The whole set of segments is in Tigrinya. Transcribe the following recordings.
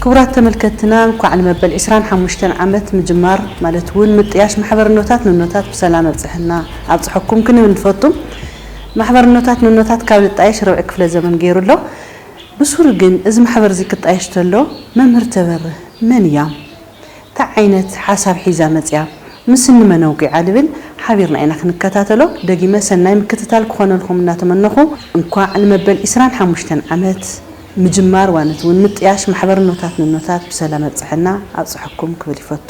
ክቡራት ተመልከትትና እንኳዕ ንመበል ዕስራን ሓሙሽተን ዓመት ምጅማር ማለት እውን ምጥያሽ ማሕበርኖታት ንኖታት ብሰላም ኣብፀሐና ኣብፀሐኩም ክንብል ንፈቱ። ማሕበርኖታት ንኖታት ካብ ልጣየሽ ርብዒ ክፍለ ዘመን ገይሩ ኣሎ። ብሱሩ ግን እዚ ማሕበር እዚ ክጣየሽ ተሎ መምህር ተበርህ መን እያም? ታይ ዓይነት ሓሳብ ሒዛ መፅያ ምስ እንመን ኣውጊዓ ልብል ሓቢርና ኢና ክንከታተሎ ደጊመ ሰናይ ምክትታል ክኾነልኹም እናተመነኹ እንኳዕ ንመበል ዕስራን ሓሙሽተን ዓመት ምጅማር ዋኒት እውን ምጥያሽ ማሕበርኖታት ንኖታት ብሰላም ኣብፀሐና ኣብፀሐኩም ክብል ይፈቱ።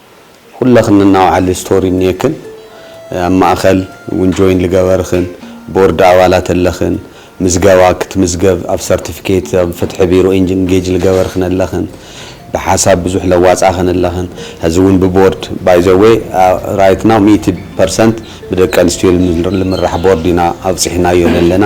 ኩለኽን እናውዓሊ ስቶሪ እኒኤክን ኣብ ማእኸል እውን ጆይን ልገበርኽን ቦርድ ኣባላት ኣለኽን ምዝገባ ክትምዝገብ ኣብ ሰርቲፊኬት ኣብ ፍትሒ ቢሮ ኢንጌጅ ልገበርኽን ኣለኽን ብሓሳብ ብዙሕ ለዋፃኽን ኣለኽን ሀዚ እውን ብቦርድ ባይ ዘ ዌይ ራይት ናው ሚእቲ ፐርሰንት ብደቂ ኣንስትዮ ልምራሕ ቦርድ ኢና ኣብፂሕናዮ ለለና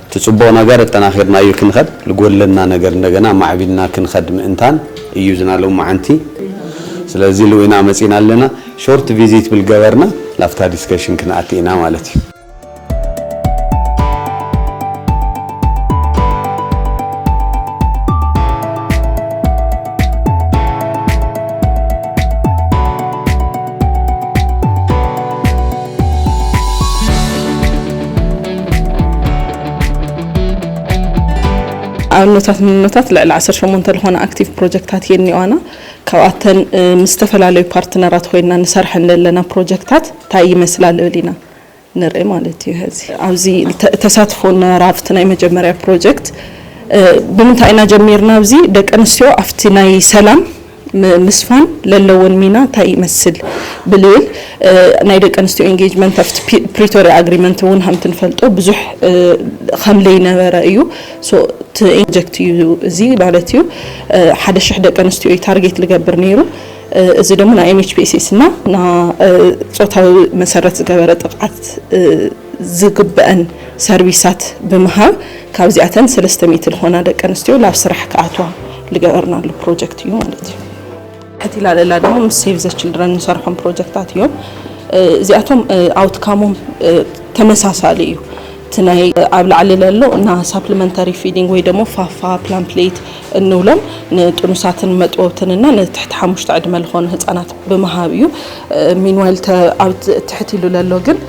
እቲ ጽቡቕ ነገር ኣጠናኺርና እዩ ክንኸድ፣ ልጎድለና ነገር እንደገና ኣማዕቢልና ክንኸድ ምእንታን እዩ ዝና ሎምዓንቲ ስለዚ ኢሉ ኢና መጺና ኣለና ሾርት ቪዚት ብል ገበርና ላፍታ ዲስከሽን ክንኣቲ ኢና ማለት እዩ። ኣብነታት ንነታት ልዕሊ 18 ዝኾነ ኣክቲቭ ፕሮጀክታት እየን እኒዋና ካብኣተን ምስ ዝተፈላለዩ ፓርትነራት ኮይና ንሰርሐን ዘለና ፕሮጀክታት እንታይ ይመስላ ልብል ኢና ንርኢ ማለት እዩ ዚ ኣብዚ ተሳትፎ ነራብቲ ናይ መጀመርያ ፕሮጀክት ብምንታይ ኢና ጀሚርና ኣብዚ ደቂ ኣንስትዮ ኣብቲ ናይ ሰላም ንምስፋን ለለወን ሚና እንታይ ይመስል ብልል ናይ ደቂ ኣንስትዮ ኢንጌጅመንት ኣብቲ ፕሪቶርያ ኣግሪመንት እውን ሃምቲ ንፈልጦ ብዙሕ ከም ለይነበረ እዩ እቲ ኢንጀክት እዩ እዚ ማለት እዩ ሓደ ሽሕ ደቂ ኣንስትዮ እዩ ታርጌት ልገብር ነይሩ እዚ ደግሞ ናይ ኤምኤችፒኤስኤስ እና ና ፆታዊ መሰረት ዝገበረ ጥቕዓት ዝግበአን ሰርቪሳት ብምሃብ ካብዚኣተን ሰለስተ ሚእቲ ዝኾና ደቂ ኣንስትዮ ናብ ስራሕ ክኣትዋ ልገበርናሉ ፕሮጀክት እዩ ማለት እዩ እቲ ላለላ ድማ ምስ ሴቭ ዘ ችልድረን ንሰርሖም ፕሮጀክታት እዮም እዚኣቶም ኣውትካሞም ተመሳሳሊ እዩ እቲ ናይ ኣብ ላዕሊ ለሎ እና ሳፕሊመንታሪ ፊዲንግ ወይ ደግሞ ፋፋ ፕላን ፕሌት እንብሎም ንጥኑሳትን መጥወብትን እና ንትሕቲ ሓሙሽተ ዕድመ ዝኾኑ ህፃናት ብምሃብ እዩ ሚንዋይል ትሕት ኢሉ ለሎ ግን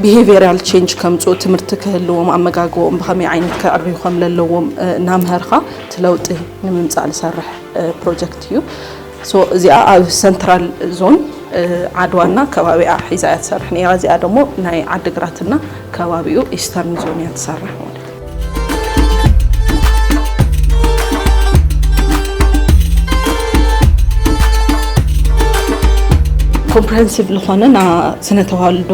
ቢሄቪራል ቼንጅ ከምፅኡ ትምህርቲ ክህልዎም ኣመጋግቦኦም ብኸመይ ዓይነት ክዕርዩ ከም ዘለዎም እናምሀርካ እቲ ለውጢ ንምምፃእ ዝሰርሕ ፕሮጀክት እዩ እዚኣ ኣብ ሰንትራል ዞን ዓድዋና ከባቢኣ ሒዛ እያ ትሰርሕ ነራ እዚኣ ደግሞ ናይ ዓድግራትና ከባቢኡ ኢስተርን ዞን እያ ትሰርሕ ማለት ኮምፕረሄንሲቭ ዝኾነ ና ስነ ተዋልዶ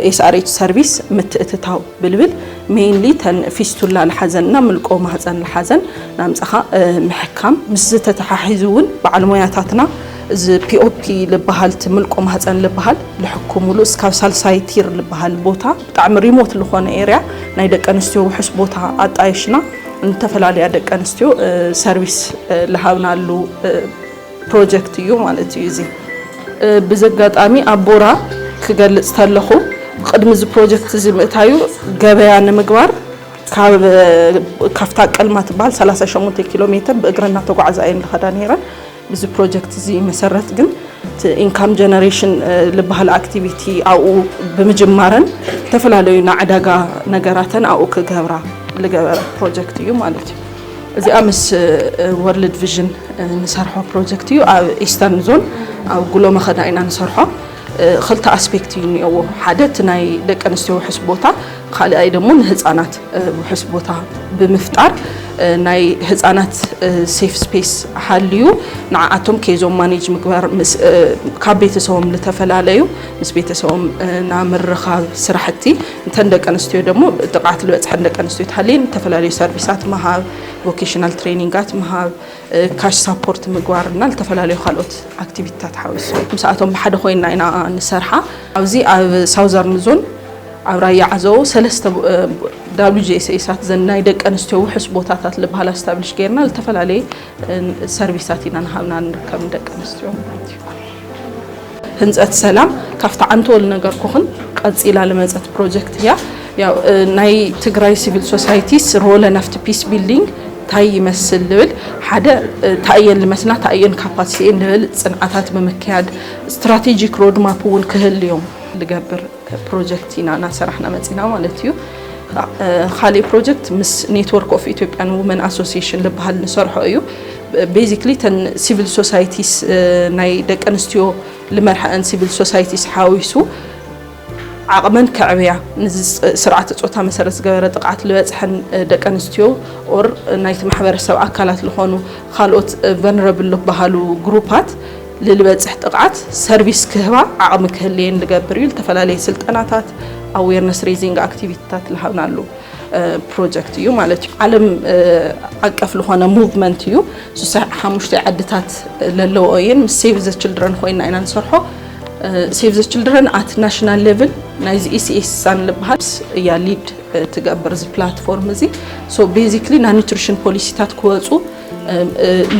ኤስኣርኤች ሰርቪስ ምትእትታው ብልብል ሜይንሊ ተን ፊስቱላ ልሓዘን እና ምልቆ ማህፀን ልሓዘን ናምፅኻ ምሕካም ምስ ዝተተሓሒዙ እውን በዓል ሞያታትና እዚ ፒኦፒ ልበሃልቲ ምልቆ ማህፀን ልበሃል ልሕኩምሉ እስካብ ሳልሳይ ቲር ልበሃል ቦታ ብጣዕሚ ሪሞት ልኾነ ኤርያ ናይ ደቂ ኣንስትዮ ውሑስ ቦታ ኣጣይሽና ንተፈላለያ ደቂ ኣንስትዮ ሰርቪስ ልሃብናሉ ፕሮጀክት እዩ ማለት እዩ እዚ ብዘጋጣሚ ኣብ ቦራ ክገልፅ ተለኹ ቅድሚ እዚ ፕሮጀክት እዚ ምእታዩ ገበያ ንምግባር ካብታ ቀልማ ትበሃል 38 ኪሎ ሜትር ብእግረና ተጓዕዛ እየን ዝኸዳ ነይረን እዚ ፕሮጀክት እዚ መሰረት ግን እቲ ኢንካም ጀነሬሽን ዝበሃል ኣክቲቪቲ ኣብኡ ብምጅማረን ዝተፈላለዩ ናይ ዕዳጋ ነገራተን ኣብኡ ክገብራ ዝገበረ ፕሮጀክት እዩ ማለት እዩ እዚኣ ምስ ወርልድ ቪዥን ንሰርሖ ፕሮጀክት እዩ ኣብ ኢስተርን ዞን ኣብ ጉሎ መኸዳ ኢና ንሰርሖ ኽልተ ኣስፔክት እዩ እኒኦዎ ሓደ እቲ ናይ ደቂ ኣንስትዮ ውሕስ ቦታ ካልኣይ ደግሞ ንህፃናት ውሕስ ቦታ ብምፍጣር ናይ ህፃናት ሴፍ ስፔስ ሃልዩ ንዓኣቶም ኬዞም ማኔጅ ምግባር ካብ ቤተሰቦም ልተፈላለዩ ምስ ቤተሰቦም ናብ ምርኻብ ስራሕቲ እንተን ደቂ ኣንስትዮ ደግሞ ጥቕዓት ልበፅሐን ደቂ ኣንስትዮ ተሃልየን ዝተፈላለዩ ሰርቪሳት ምሃብ ቮኬሽናል ትሬኒንጋት ምሃብ ካሽ ሳፖርት ምግባር እና ዝተፈላለዩ ካልኦት ኣክቲቪቲታት ሓዊሱ ምስኣቶም ብሓደ ኮይና ኢና ንሰርሓ ኣብዚ ኣብ ሳውዘርን ዞን ኣብ ራያ ዓዘቦ ሰለስተ ዳብሊው ጂኤስኤሳት ዘን ናይ ደቂ ኣንስትዮ ውሑስ ቦታታት ዝበሃል ኣስታብሊሽ ገይርና ዝተፈላለየ ሰርቪሳት ኢና ንሃብና ንርከብ ንደቂ ኣንስትዮ ማለት እዩ ህንፀት ሰላም ካብቲ ዓንተወል ነገርኩኽን ቀፂላ ልመፀት ፕሮጀክት እያ። ያው ናይ ትግራይ ሲቪል ሶሳይቲስ ሮለ ናፍቲ ፒስ ቢልዲንግ ታይ ይመስል ልብል ሓደ ታእየን ልመስና ታእየን ካፓሲቲኤን ልብል ፅንዓታት ብምክያድ ስትራቴጂክ ሮድማፕ እውን ክህልዮም ልገብር ፕሮጀክት ኢና እናሰራሕና መፂና ማለት እዩ። ካሊእ ፕሮጀክት ምስ ኔትወርክ ኦፍ ኢትዮጵያን ውመን ኣሶሲሽን ዝበሃል ንሰርሖ እዩ ቤዚክሊ ተን ሲቪል ሶሳይቲስ ናይ ደቂ ኣንስትዮ ልመርሐአን ሲቪል ሶሳይቲስ ሓዊሱ ዓቕመን ከዕብያ ስርዓተ ፆታ መሰረት ዝገበረ ጥቕዓት ዝበፅሐን ደቂ ኣንስትዮ ኦር ናይቲ ማሕበረሰብ ኣካላት ዝኾኑ ካልኦት ቨነረብል ዝበሃሉ ግሩፓት ልልበፅሕ ጥቕዓት ሰርቪስ ክህባ ዓቕሚ ክህልየን ልገብር እዩ። ልተፈላለየ ስልጠናታት ኣዌርነስ ሬዚንግ ኣክቲቪቲታት ልሃብናሉ ፕሮጀክት እዩ ማለት እዩ። ዓለም ዓቀፍ ልኾነ ሙቭመንት እዩ። ስሳ ሓሙሽተ ዓድታት ለለዎ እየን ምስ ሴቭ ዘ ችልድረን ኮይና ኢና ንሰርሖ ሴቭ ዘ ችልድረን ኣት ናሽናል ሌቭል ናይዚ ኢሲኤስሳን ልበሃል እያ ሊድ ትገብር እዚ ፕላትፎርም እዚ ቤዚክሊ ናይ ኒትሪሽን ፖሊሲታት ክወፁ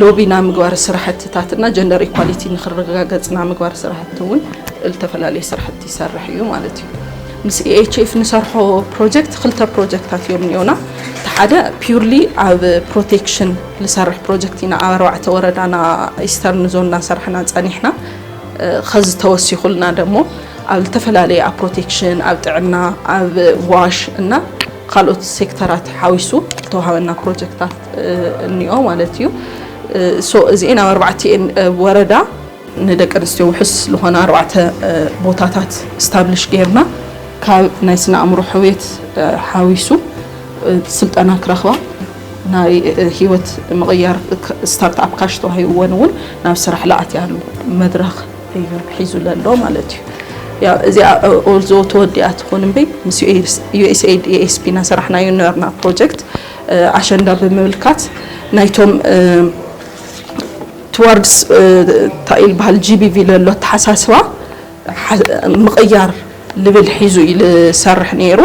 ሎቢ ናይ ምግባር ስራሕትታት እና ጀንደር ኢኳሊቲ ንክረጋገፅ ናይ ምግባር ስራሕቲ እውን ዝተፈላለዩ ስራሕቲ ይሰርሕ እዩ ማለት እዩ ምስ ኢኤችኤፍ ንሰርሖ ፕሮጀክት ክልተ ፕሮጀክታት እዮም እኒኦና እቲ ሓደ ፒርሊ ኣብ ፕሮቴክሽን ዝሰርሕ ፕሮጀክት ኢና ኣብ ኣርባዕተ ወረዳና ኢስተርን ዞን እናሰራሕና ፀኒሕና ከዚ ተወሲኹልና ደሞ ኣብ ዝተፈላለየ ኣብ ፕሮቴክሽን ኣብ ጥዕና ኣብ ዋሽ እና ካልኦት ሴክተራት ሓዊሱ ዝተዋሃበና ፕሮጀክታት እኒኦ ማለት እዩ ሶ እዚኤን ኣብ ኣርባዕቲኤን ወረዳ ንደቂ ኣንስትዮ ውሑስ ዝኾነ ኣርባዕተ ቦታታት ስታብሊሽ ጌርና ካብ ናይ ስነ ኣእምሮ ሕውየት ሓዊሱ ስልጠና ክረኽባ ናይ ህይወት ምቕያር ስታርትኣፕ ካሽ ተዋሂብወን እውን ናብ ስራሕ ለኣትያሉ መድረኽ እዩ ሒዙ ዘሎ ማለት እዩ እዚኣ ኦልዞ ተወዲኣ ትኹን እምበይ ምስ ዩኤስኤድ ኤኤስፒ ናሰራሕናዮ ነበርና ፕሮጀክት ኣሸንዳ ብምምልካት ናይቶም ትዋርድስ እንታይ ይበሃል ጂቢቪ ለሎ ኣተሓሳስባ ምቕያር ልብል ሒዙ እዩ ዝሰርሕ ነይሩ።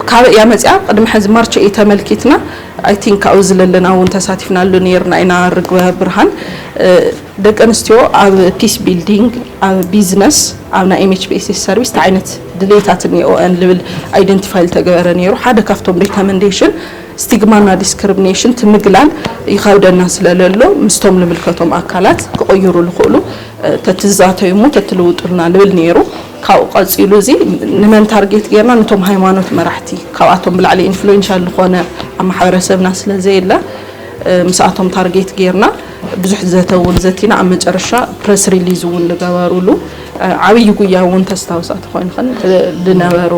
ካበይ እያ መፅያ? ቅድሚ ሕዚ ማርች ኤይት ተመልኪትና ኣይ ቲንክ ካብኡ ዝለለና እውን ተሳቲፍናሉ ነይርና ኢና ርግበ ብርሃን ደቂ ኣንስትዮ ኣብ ፒስ ቢልዲንግ፣ ኣብ ቢዝነስ፣ ኣብ ናይ ኤምኤችፒኤስኤስ ሰርቪስ እንታይ ዓይነት ድሌታት እኒኦኤን ልብል ኣይደንቲፋይ ልተገበረ ነይሩ። ሓደ ካብቶም ሪከመንዴሽን ስቲግማና ዲስክርምኔሽን እቲ ምግላል ይኸብደና ስለ ለሎ ምስቶም ልምልከቶም ኣካላት ክቕይሩ ልኽእሉ ተትዛተዩ እሞ ተትልውጡልና ልብል ነይሩ። ካብኡ ቀጺሉ እዚ ንመን ታርጌት ገይርና ንቶም ሃይማኖት መራሕቲ ካብኣቶም ብላዕሊ ኢንፍሉዌንሻል ልኾነ ኣብ ማሕበረሰብና ስለ ዘየለ ምስኣቶም ታርጌት ገይርና ብዙሕ ዘተ እውን ዘቲና ኣብ መጨረሻ ፕረስ ሪሊዝ እውን ዝገበሩሉ ዓብዪ ጉያ እውን ተስታውሳ ተኾይንኽን ዝነበሩ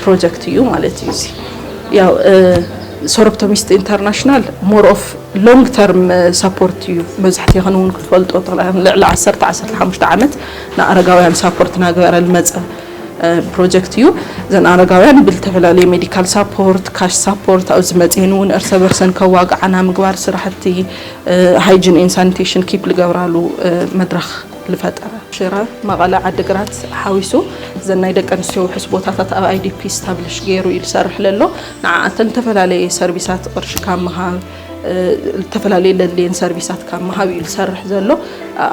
ፕሮጀክት እዩ ማለት እዩ እዚ ያው ሶሮፕቶሚስት ኢንተርናሽናል ሞር ኦፍ ሎንግ ተርም ሳፖርት እዩ መብዛሕትኽን እውን ክትፈልጦ ልዕሊ 10 15 ዓመት ንኣረጋውያን ሳፖርት ናገበረ ዝመፀ ፕሮጀክት እዩ ዘን ኣረጋውያን ብዝተፈላለዩ ሜዲካል ሳፖርት ካሽ ሳፖርት ኣብ ዝመፅኤን እውን እርሰ በርሰን ከዋግዓና ምግባር ስራሕቲ ሃይጅን ኤን ሳኒቴሽን ኪፕ ልገብራሉ መድረኽ ልፈጠረ ሽረ መቐለ ዓዲግራት ሓዊሱ ዘን ናይ ደቂ ኣንስትዮ ውሕስ ቦታታት ኣብ ኣይዲፒ ስታብሊሽ ገይሩ እዩ ዝሰርሕ ለሎ ንዓኣተን ዝተፈላለየ ሰርቪሳት ቅርሺ ካብ ምሃብ ዝተፈላለዩ ለድልየን ሰርቪሳት ካብ ምሃብ እዩ ዝሰርሕ ዘሎ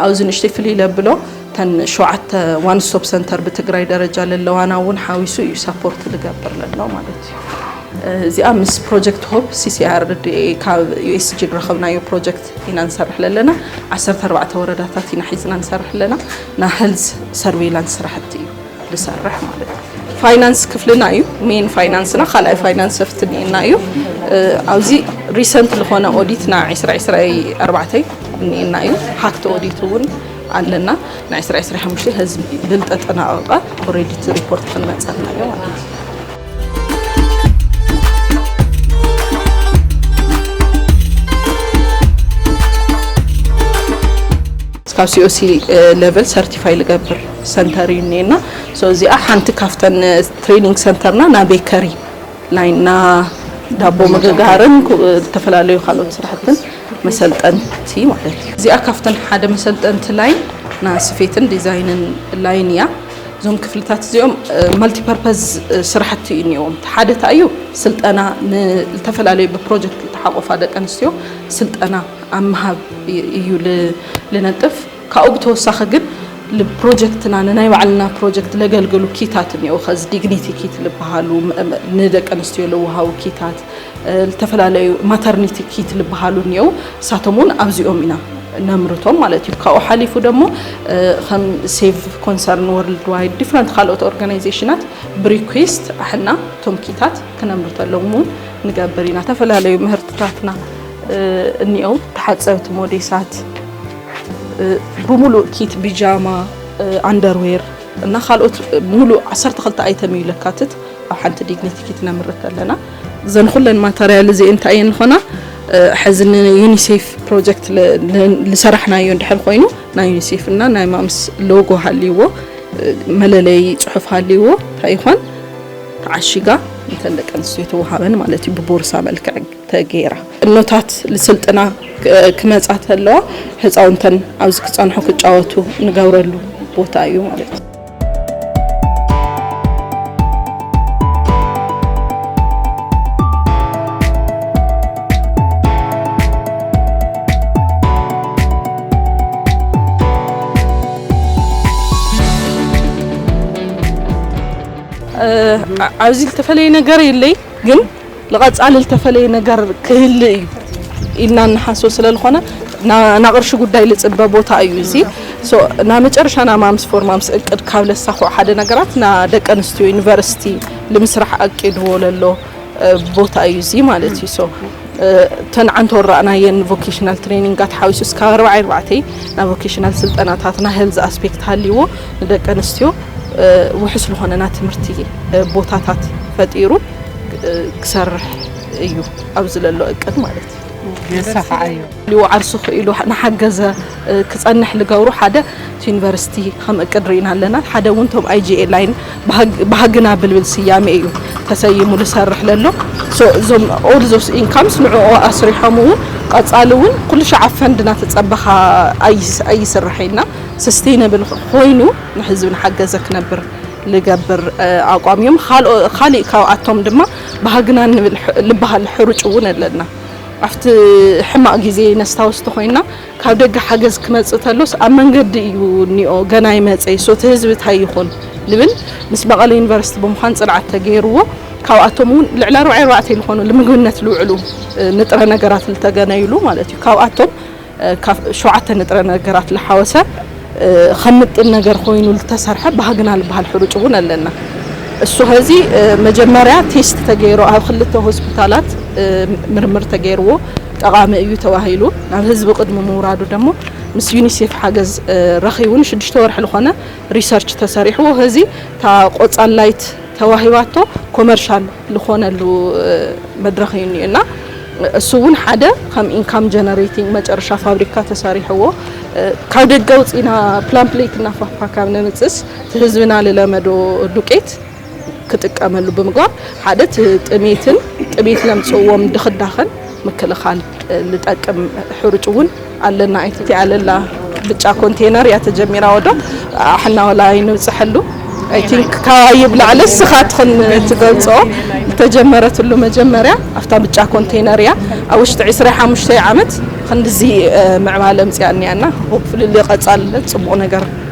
ኣብዚ ንእሽተይ ፍልይ ለብሎ እተን ሸውዓተ ዋን ስቶፕ ሰንተር ብትግራይ ደረጃ ለለዋና እውን ሓዊሱ እዩ ሳፖርት ልገብር ለሎ ማለት እዩ። እዚኣ ምስ ፕሮጀክት ሆፕ ሲሲኣርዲኤ ካብ ዩኤስጂ ዝረኸብናዮ ፕሮጀክት ኢና ንሰርሕ ለለና ዓሰርተ ኣርባዕተ ወረዳታት ኢና ሒዝና ንሰርሕ ኣለና ና ሄልዝ ሰርቬይላንስ ስራሕቲ እዩ ልሰርሕ ማለት እዩ። ፋይናንስ ክፍልና እዩ ሜን ፋይናንስና ካልኣይ ፋይናንስ ሰፍትኒና እዩ ኣብዚ ሪሰንት ዝኾነ ኦዲትና ዕስራ ዕስራ ኣርባዕተ እኒኤና እዩ ሃክቲ ኦዲት እውን ኣለና ናይ ዕስራ ዕስራ ሓሙሽተ ህዝቢ ብልጠጠናቐቐ ኦሬዲቲ ሪፖርት ክንመፀልና እዮ ማለት እዩ ካብ ሲኦሲ ሌቨል ሰርቲፋይ ልገብር ሰንተር እዩ እኒኤና እዚኣ ሓንቲ ካብተን ትሬኒንግ ሰንተርና ና ቤከሪ ላይና ዳቦ ምግጋርን ዝተፈላለዩ ካልኦት ስራሕትን መሰልጠንቲ ማለት እዩ። እዚኣ ካብተን ሓደ መሰልጠንቲ ላይን ና ስፌትን ዲዛይንን ላይን እያ። እዞም ክፍልታት እዚኦም መልቲ ፐርፐዝ ስራሕቲ እዩ እኒዎም። እቲ ሓደ እንታይ እዩ ስልጠና ንዝተፈላለዩ ብፕሮጀክት ዝተሓቆፋ ደቂ ኣንስትዮ ስልጠና ኣብ ምሃብ እዩ ልነጥፍ። ካብኡ ብተወሳኺ ግን ልፕሮጀክትና ንናይ ባዕልና ፕሮጀክት ለገልገሉ ኪታት እኒኦ ኸዚ ዲግኒቲ ኪት ልበሃሉ ንደቂ ኣንስትዮ ለወሃቡ ኪታት ልተፈላለዩ ማተርኒቲ ኪት ልበሃሉ እኒኦው እሳቶም እውን ኣብዚኦም ኢና ነምርቶም ማለት እዩ ካብኡ ሓሊፉ ደሞ ከም ሴቭ ኮንሰርን ወርልድ ዋይድ ዲፍረንት ካልኦት ኦርጋናይዜሽናት ብሪኩስት ኣሕና እቶም ኪታት ክነምርተሎም እውን ንገብር ኢና ዝተፈላለዩ ምህርትታትና እኒኦው ተሓፀብቲ ሞዴሳት ብሙሉእ ኪት፣ ቢጃማ፣ ኣንደርዌር እና ካልኦት ሙሉእ ዓሰርተ ክልተ ኣይተም እዩ ለካትት ኣብ ሓንቲ ዲግኒቲ ኪት ነምርት ኣለና። እዘን ኩለን ማተርያል እዚኤን እንታይ እየን ዝኾና ሕዚ ንዩኒሴፍ ፕሮጀክት ዝሰራሕናዮ እንድሕር ኮይኑ ናይ ዩኒሴፍ እና ናይ ማምስ ሎጎ ሃልይዎ መለለይ ፅሑፍ ሃልይዎ እንታይ ይኾን ተዓሺጋ እንተን ደቂ ኣንስትዮ ተወሃበን ማለት እዩ ብቦርሳ መልክዕ ተገይራ እኖታት ልስልጥና ክመጻ ተለዋ ህፃውንተን ኣብዚ ክፀንሑ ክጫወቱ ንገብረሉ ቦታ እዩ ማለት እዩ። ኣብዚ ዝተፈለየ ነገር የለይ ግን ንቐፃሊ ልተፈለየ ነገር ክህሊ እዩ ኢልና ንሓስብ ስለልኾነ ናቕርሺ ጉዳይ ልፅበ ቦታ እዩ እዚ ናመጨረሻ ናማምስ ፎርማምስ እቅድ ካብ ለሳኹዕ ሓደ ነገራት ናደቂ ኣንስትዮ ዩኒቨርሲቲ ልምስራሕ ኣቂድዎ ለሎ ቦታ እዩ እዚ ማለት እዩ ሶ ተንዓንቶ ራእናየን ቮኬሽናል ትሬኒንጋት ሓዊሱ እስካብ ኣርባዕ ኣርባዕተይ ናብ ቮኬሽናል ስልጠናታት ና ሄልዝ ኣስፔክት ሃልዎ ንደቂ ኣንስትዮ ውሑስ ዝኾነና ትምህርቲ ቦታታት ፈጢሩ ክሰርሕ እዩ ኣብዚ ዘሎ እቅድ ማለት እዩ የሰፋዓዮ ሊወዓርሱ ክኢሉ ንሓገዘ ክፀንሕ ልገብሩ ሓደ እቲ ዩኒቨርሲቲ ከም እቅድ ርኢና ኣለና ሓደ እውን ቶም ኣይጂኤ ላይን ባህግና ብልብል ስያሜ እዩ ተሰይሙ ልሰርሕ ለሎ እዞም ኦል ዞስ ኢንካምስ ንዕኦ ኣስሪሖም እውን ቀፃሊ እውን ኩሉ ሸዓብ ፈንድ እናተፀበኻ ኣይስራሐና ስስቴነብል ኮይኑ ንህዝቢ ንሓገዘ ክነብር ልገብር ኣቋም እዮም ኻሊእ ካብኣቶም ድማ ባህግና ንብል ልበሃል ሕሩጭ እውን ኣለና ኣብቲ ሕማቅ ግዜ ነስታውስ ተኾይና ካብ ደገ ሓገዝ ክመጽእ ተሎስ ኣብ መንገዲ እዩ እኒኦ ገና ይመጸ ይሶ እቲ ህዝቢ ታይ ይኹን ልብል ምስ መቐለ ዩኒቨርሲቲ ብምዃን ጽንዓት ተገይርዎ ካብኣቶም እውን ልዕሊ ኣርባዕተ ልኾኑ ልምግብነት ልውዕሉ ንጥረ ነገራት ልተገነዩሉ ማለት እዩ ካብኣቶም ካብ ሸውዓተ ንጥረ ነገራት ልሓወሰ ከም ምጥን ነገር ኮይኑ ልተሰርሐ ባህግና ልበሃል ሕሩጭ እውን ኣለና። እሱ ኸዚ መጀመርያ ቴስት ተገይሩ ኣብ ክልተ ሆስፒታላት ምርምር ተገይርዎ ጠቓሚ እዩ ተባሂሉ ናብ ህዝቢ ቅድሚ ምውራዱ ደሞ ምስ ዩኒሴፍ ሓገዝ ረኺቡ ንሽዱሽተ ወርሒ ልኾነ ሪሰርች ተሰሪሕዎ ኸዚ እታ ቆፃል ላይት ተዋሂባቶ ኮመርሻል ልኾነሉ መድረኽ እዩ እኒኦ እና እሱ እውን ሓደ ከም ኢንካም ጀነሬቲንግ መጨረሻ ፋብሪካ ተሰሪሕዎ ካብ ደገ ውፅኢና ፕላን ፕሌት እና ፋፋ ካብ ነምፅስ ህዝብና ልለመዶ ዱቄት ክጥቀመሉ ብምግባር ሓደ ጥሜትን ጥሜት ለምፅዎም ድኽዳኸን ምክልኻል ልጠቅም ሕሩጭ እውን ኣለና ኢቲ ኣለላ ብጫ ኮንቴነር እያ ተጀሚራ ወዶ ኣሕና ወላ ኣይንብፅሐሉ ኣይ ቲንክ ካባይብ ላዕሊ ስኻ ትኽን ትገልፆ ዝተጀመረትሉ መጀመርያ ኣብታ ብጫ ኮንቴነር እያ ኣብ ውሽጢ ዕስራ ሓሙሽተ ዓመት ክንድዚ ምዕባለ ምፅያ እኒያና ሆፕፍሊ ልቐፃልለ ፅቡቕ ነገር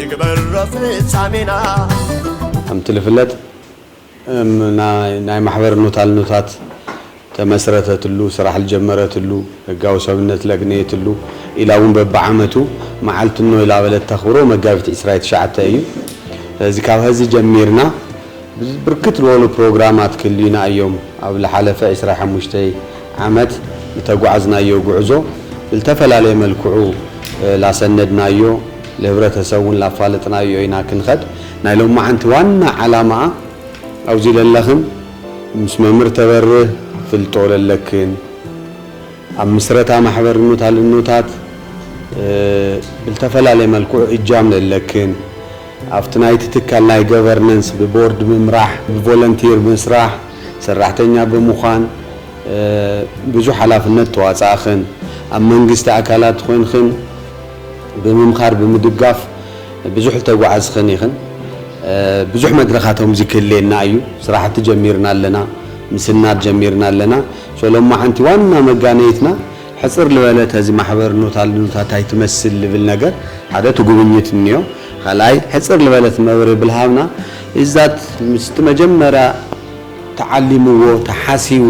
ይግበሮ ፍጻሜና። ከምቲ ልፍለጥ ናይ ማሕበር ኖታል ኖታት ተመስረተትሉ፣ ስራሕ ልጀመረትሉ፣ ህጋዊ ሰብነት ለግነየትሉ ኢላ እውን በብዓመቱ መዓልቲ ኖይላ በለት ተኽብሮ መጋቢት ዕስራይ ትሽዓተ እዩ። ስለዚ ካብ ሀዚ ጀሚርና፣ ብርክት ልበሉ ፕሮግራማት ክልዩና እዮም ኣብ ልሓለፈ ዕስራ ሓሙሽተ ዓመት ልተጓዕዝናዮ ጉዕዞ ብልተፈላለየ መልክዑ ላሰነድናዮ ልህብረተሰብ እውን ላፋለጥናዮ ኢና ክንኸድ ናይ ሎማዓንቲ ዋና ዓላማኣ ኣብዚ ለለኽን ምስ መምህር ተበርህ ፍልጦ ለለክን ኣብ ምስረታ ማሕበርኖት ኣልኖታት ብልተፈላለየ መልክዑ እጃም ለለክን ኣብቲ ናይቲ ትካል ናይ ገቨርነንስ ብቦርድ ምምራሕ፣ ብቮለንቲር ምስራሕ፣ ሰራሕተኛ ብምዃን ብዙሕ ሓላፍነት ተዋፃእኽን ኣብ መንግስቲ ኣካላት ኾይንኽን ብምምኻር ብምድጋፍ ብዙሕ ዝተጓዓዝኽን ኢኽን። ብዙሕ መድረኻት ኸምዚ ክህልየና እዩ። ስራሕቲ ጀሚርና ኣለና፣ ምስናድ ጀሚርና ኣለና። ሶሎሞዓንቲ ዋና መጋነይትና ሕጽር ልበለ ተዚ ማሕበር ኑታ ልኑታ ታይ ትመስል ልብል ነገር ሓደ እቲ ጉብኝት እንዮ ኻልኣይ ሕጽር ልበለ እቲ መብርሂ ብልሃብና ኢዝዳት ምስቲ መጀመርያ ተዓሊምዎ ተሓሲቡ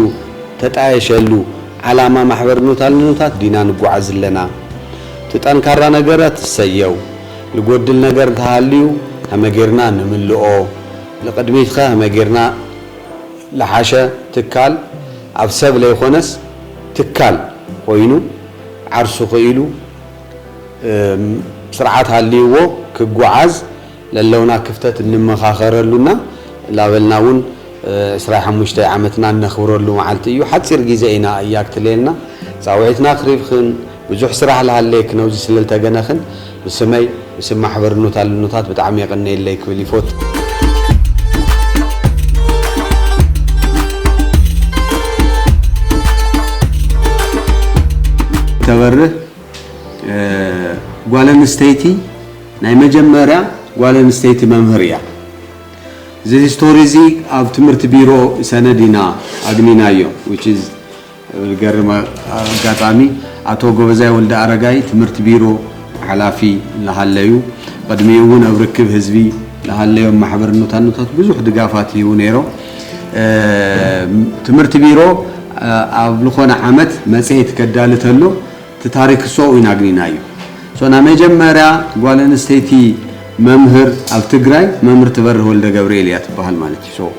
ተጣየሸሉ ዓላማ ማሕበር ኑታ ልኑታት ዲና ንጉዓዝ ዝለና እቲ ጠንካራ ነገረት እሰየው ልጎድል ነገር እንተሃልዩ ሀመ ገርና ንምልኦ ልቅድሚትኸ ሀመ ገርና ልሓሸ ትካል ኣብ ሰብ ለይኾነስ ትካል ኮይኑ ዓርሱ ክኢሉ ስርዓት ሃልይዎ ክጉዓዝ ለለውና ክፍተት እንመኻኸረሉ እና ላበልና እውን ዕስራይ ሓሙሽተይ ዓመትና እነኽብረሉ መዓልቲ እዩ ሓፂር ጊዘ ኢና እያ ክትሌልና ፃውዒትና ክሪብክን ብዙሕ ስራሕ ልሃሌክ ነውዚ ስለ ልተገነክን ብስመይ ብስም ማሕበር ኑት ኣልኑታት ብጣዕሚ የቀኔለይ ክብል ይፎት። ተበርህ ጓል ኣንስተይቲ ናይ መጀመርያ ጓል ኣንስተይቲ መምህር እያ። እዚ ሂስቶሪ እዚ ኣብ ትምህርቲ ቢሮ ሰነድ ኢና ኣግኒናዮ which is ዝገርም ኣጋጣሚ ኣቶ ጎበዛይ ወልደኣረጋይ ትምህርቲ ቢሮ ሓላፊ ላሃለዩ ቕድሚኡ እውን ኣብ ርክብ ህዝቢ ላሃለዮም ማሕበርነታኖታት ብዙሕ ድጋፋት ይህቡ ነይሮም። ትምህርቲ ቢሮ ኣብ ልኾነ ዓመት መፅሄት ከዳሊ ተሎ እቲ ታሪክ እሶኡ ኢና ኣግኒናዮ እሶ ናይ መጀመርያ ጓል ኣንስተይቲ መምህር ኣብ ትግራይ መምህር ትበርህ ወልደገብርኤል እያ ትባሃል ማለት እዩ እሶ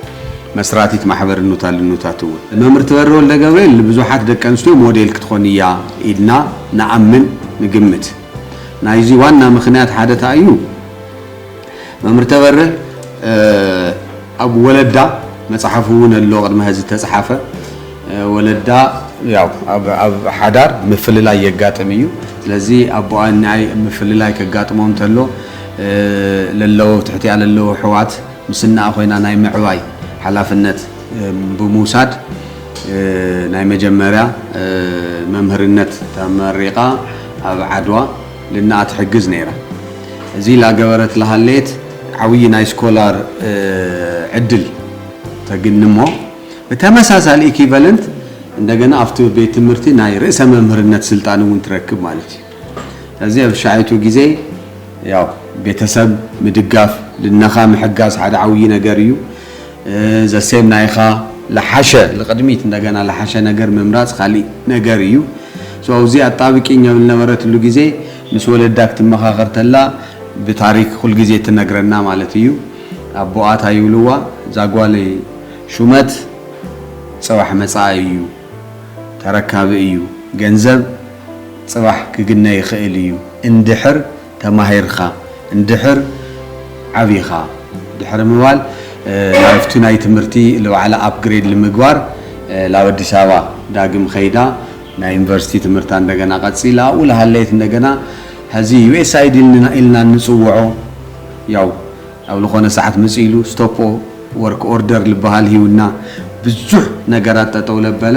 መስራቲት ማሕበር እኑታ ልኑታት እውን መምህር ትበርህ ወልደገብርኤል ንብዙሓት ደቂ ኣንስትዮ ሞዴል ክትኾን እያ ኢልና ንኣምን ንግምት ናይዚ ዋና ምክንያት ሓደ ታይ እዩ መምህር ተበርህ ኣብ ወለዳ መጽሓፍ እውን ኣሎ ቅድሚ ሀዚ ዝተጽሓፈ ወለዳ ያው ኣብ ሓዳር ምፍልላይ የጋጥም እዩ ስለዚ ኣቦኣ እኒኣይ ምፍልላይ ከጋጥሞም ተሎ ለለዎ ትሕቲኣ ለለዎ ኣሕዋት ምስ እነኣ ኮይና ናይ ምዕባይ ሓላፍነት ብምውሳድ ናይ መጀመርያ መምህርነት ተመሪቓ ኣብ ዓድዋ ልናኣ ትሕግዝ ነይራ። እዚ ላገበረት ላሃለየት ዓውዪ ናይ ስኮላር ዕድል ተግንሞ ብተመሳሳሊ ኢኪቨለንት እንደገና ኣብቲ ቤት ትምህርቲ ናይ ርእሰ መምህርነት ስልጣን እውን ትረክብ ማለት እዩ። ስለዚ ኣብ ሻይቱ ጊዜ ያው ቤተሰብ ምድጋፍ ልናኻ ምሕጋዝ ሓደ ዓውዪ ነገር እዩ። ዘሴም ናይኻ ልሓሸ ልቅድሚት እንደገና ልሓሸ ነገር ምምራፅ ካሊእ ነገር እዩ so ኣብዚ ኣጣብቂኝ ኣብ ልነበረትሉ ግዜ ምስ ወለዳ ክትመኻኸር ተላ ብታሪክ ኩል ግዜ ትነግረና ማለት እዩ ኣቦኣ ታይ ይብልዋ እዛ ጓለይ ሹመት ፅባሕ መፃኢ እዩ ተረካቢ እዩ ገንዘብ ፅባሕ ክግነ ይኽእል እዩ እንድሕር ተማሂርካ እንድሕር ዓቢኻ ድሕሪ ምባል ናብቲ ናይ ትምህርቲ ልባዕላ ኣፕግሬድ ልምግባር ላብ ኣዲስ ኣበባ ዳግም ኸይዳ ናይ ዩኒቨርሲቲ ትምህርታ እንደገና ቀጺላ ኣብኡ ልሃለየት እንደገና ሀዚ USAID ኢልና እንጽውዖ ያው ኣብ ልኾነ ሰዓት መጺኡ ኢሉ ስቶፖ ወርክ ኦርደር ልበሃል ሂቡና ብዙሕ ነገራት ጠጠው ለበለ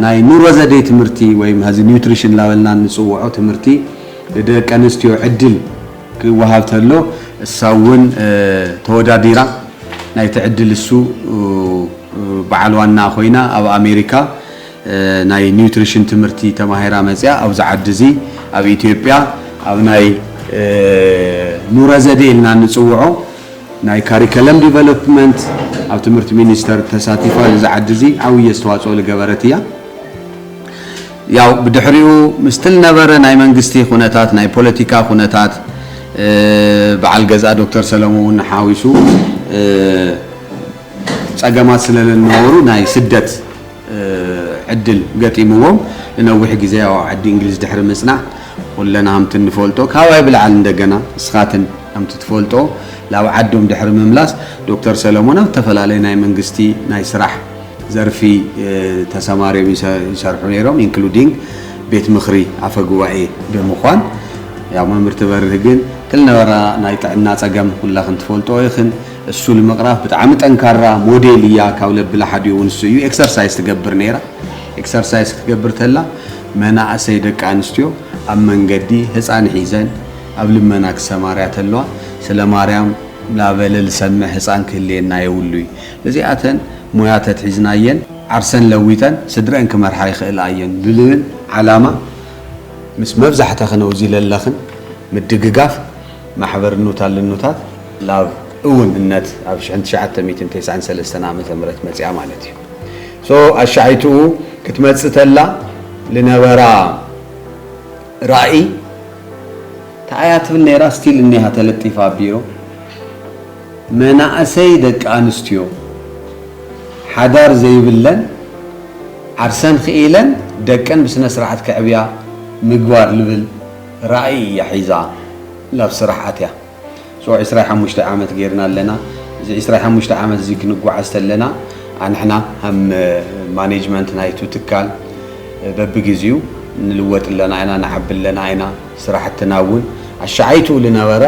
ናይ ኑሮ ዘዴ ትምህርቲ ወይም ሀዚ ኒውትሪሽን ላበልና እንጽውዖ ትምህርቲ ንደቀንስትዮ ዕድል ክወሃብ ተሎ እሳ እውን ተወዳዲራ ናይቲ ዕድል እሱ በዓል ዋና ኮይና ኣብ ኣሜሪካ ናይ ኒውትሪሽን ትምህርቲ ተማሂራ መፂኣ ኣብዚ ዓዲ እዚ ኣብ ኢትዮጵያ ኣብ ናይ ኑረ ዘዴ ኢልና እንፅውዖ ናይ ካሪከለም ዲቨሎፕመንት ኣብ ትምህርቲ ሚኒስተር ተሳቲፋ እዚ ዓዲ እዚ ዓብዪ ኣስተዋፅኦ ዝገበረት እያ። ያው ብድሕሪኡ ምስቲ ልነበረ ናይ መንግስቲ ኩነታት ናይ ፖለቲካ ኩነታት በዓል ገዛ ዶክተር ሰለሙ ውን ሓዊሱ ጸገማት ስለ ልነበሩ ናይ ስደት ዕድል ገጢምዎም ንነዊሕ ግዜ ኣብ ዓዲ እንግሊዝ ድሕሪ ምጽናዕ ኩለና ከምቲ ንፈልጦ ካባይ ብልዓል እንደገና ንስኻትን ከምቲ ትፈልጦ ላብ ዓዶም ድሕሪ ምምላስ ዶክተር ሰለሙን ኣብ ተፈላለየ ናይ መንግስቲ ናይ ስራሕ ዘርፊ ተሰማርዮም ይሰርሑ ነይሮም including ቤት ምኽሪ ኣፈ ጉባኤ ብምኳን ያው መምህር ትበርህ ግን ክልነበራ ናይ ጥዕና ጸገም ኩላኽን ትፈልጥኦ ኢኽን እሱ ንምቕራፍ ብጣዕሚ ጠንካራ ሞዴል እያ ካብ ለብላ ሓዲኡ እውን እሱ እዩ ኤክሰርሳይስ ትገብር ነይራ ኤክሰርሳይስ ክትገብር ተላ መናእሰይ ደቂ ኣንስትዮ ኣብ መንገዲ ህፃን ሒዘን ኣብ ልመና ክሰማርያ ተለዋ ስለ ማርያም ላበለ ልሰምዕ ህፃን ክህልየና የብሉይ እዚኣተን ሞያ ተትሒዝናየን ዓርሰን ለዊጠን ስድረኣን ክመርሓ ይኽእላ እየን ብልብል ዓላማ ምስ መብዛሕተኽን ኣውዚ ለለኽን ምድግጋፍ ማሕበር እኖታት ልኖታት ላብ እውን እነት ኣብ ሽሕን ትሽዓተ ሚእትን ቴስዓን ሰለስተን ዓመተ ምህረት መጺኣ ማለት እዩ so ኣሻይትኡ ክትመጽእ ተላ ልነበራ ራኢ ታይ እያ ትብል ነይራ still እኒሃ ተለጢፋ ኣብ ቢሮ መናእሰይ ደቂ ኣንስትዮ ሓዳር ዘይብለን ዓርሰን ኽኢለን ደቀን ብስነስርዓት ከዕብያ ምግባር ልብል ራእይ እያ ሒዛ ላብ ስራሕ ኣትያ። So ዕስራይ ሓሙሽተ ዓመት ገይርና ኣለና። እዚ ዕስራይ ሓሙሽተ ዓመት እዚ ክንጓዓዝ ተለና ኣንሕና ሀም ማኔጅመንት ናይቱ ትካል በብግዚኡ ንልወጥ ኣለና ኢና ንዓቢ ኣለና ኢና ስራሕትና እውን ኣሻዓይትኡ ልነበረ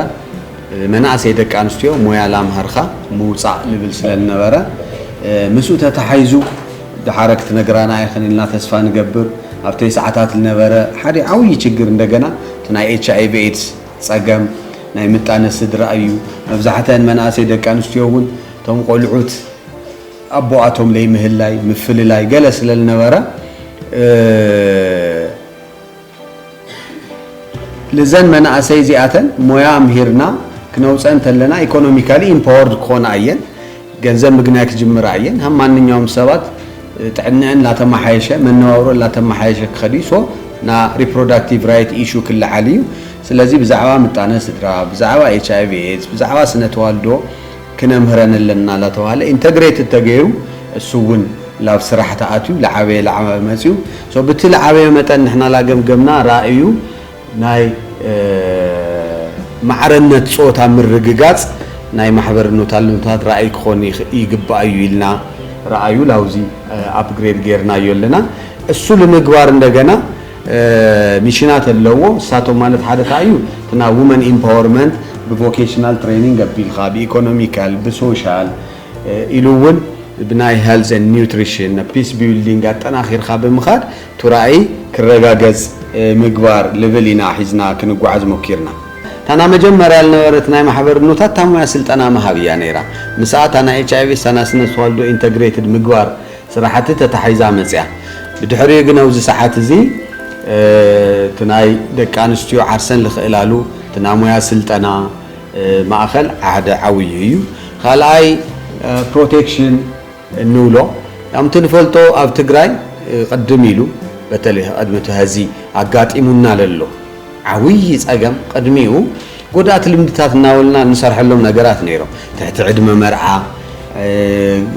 መናእሰይ ደቂ ኣንስትዮ ሞያ ላምሃርካ ምውፃእ ንብል ስለልነበረ ምስኡ ተታሓይዙ ደሓረ ክትነግራና ኢኽን ኢልና ተስፋ ንገብር ኣብ ተይሰዓታት ልነበረ ሓደ ዓውዪ ችግር እንደገና እቲ ናይ ኤች ኣይቪ ኤድስ ፀገም ናይ ምጣነ ስድራ እዩ መብዛሕተን መናእሰይ ደቂ ኣንስትዮ እውን እቶም ቆልዑት ኣቦኣቶም ለይምህላይ ምፍልላይ ገለ ስለልነበረ ልዘን መናእሰይ እዚኣተን ሞያ ኣምሂርና ክነውፀን ተለና ኢኮኖሚካሊ ኢምፓወርድ ክኾና እየን። ገንዘብ ምግናይ ክጅምራ እየን። ሃም ማንኛውም ሰባት ጥዕንዐን ላተማሓየሸ መነባብሮ ላተማሓየሸ ክኸድ እዩ። ሶ ና ሪፕሮዳክቲቭ ራይት ኢሹ ክለዓል እዩ። ስለዚ ብዛዕባ ምጣነ ስድራ፣ ብዛዕባ ኤችኣይቪ ኤድስ፣ ብዛዕባ ስነ ተዋልዶ ክነምህረን ኣለና ላተባህለ ኢንተግሬትድ ተገይሩ እሱ እውን ላብ ስራሕ ተኣትዩ ላዓበየ ላዓበየ መፅዩ so ብቲ ልዓበየ መጠን ንሕና ላገምገምና ራእዩ ናይ ማዕረነት ፆት ኣብ ምርግጋፅ ናይ ማሕበር ኖታልኖታት ራእይ ክኾን ይግባእ እዩ ኢልና ራእዩ ላውዚ ኣፕግሬድ ገይርናዮ ኣለና እሱ ልምግባር እንደገና ሚሽናት ኣለዎ ንሳቶም ማለት ሓደ እንታይ እዩ እቲ ናይ ውመን ኢምፓወርመንት ብቮኬሽናል ትሬኒንግ ኣቢልካ ብኢኮኖሚካል ብሶሻል ኢሉ እውን ብናይ ሄልዝ ኤንድ ኒውትሪሽን ናብ ፒስ ቢውልዲንግ ኣጠናኺርካ ብምኻድ እቲ ራእይ ክረጋገፅ ምግባር ልብል ኢና ሒዝና ክንጓዓዝ ሞኪርና። እታ ናይ መጀመርያ ዝነበረት ናይ ማሕበርኖታት እታ ሙያ ስልጠና ምሃብ እያ ነይራ ምስኣ እታ ናይ ኤች ኣይቪ እታ ናይ ስነ ተዋልዶ ኢንተግሬትድ ምግባር ስራሕቲ ተታሒዛ መፅያ። ብድሕሪኡ ግን ኣብዚ ሰዓት እዚ እቲ ናይ ደቂ ኣንስትዮ ዓርሰን ልኽእላሉ እቲ ናይ ሙያ ስልጠና ማእኸል ሓደ ዓብዩ እዩ። ካልኣይ ፕሮቴክሽን እንብሎ ከምቲ ንፈልጦ ኣብ ትግራይ ቕድም ኢሉ በተለይ ቐድሚ እቲ ሀዚ ኣጋጢሙና ለሎ ዓብዪ ፀገም ቕድሚኡ ጎዳእቲ ልምድታት እናበልና እንሰርሐሎም ነገራት ነይሮም። ትሕቲ ዕድመ መርዓ፣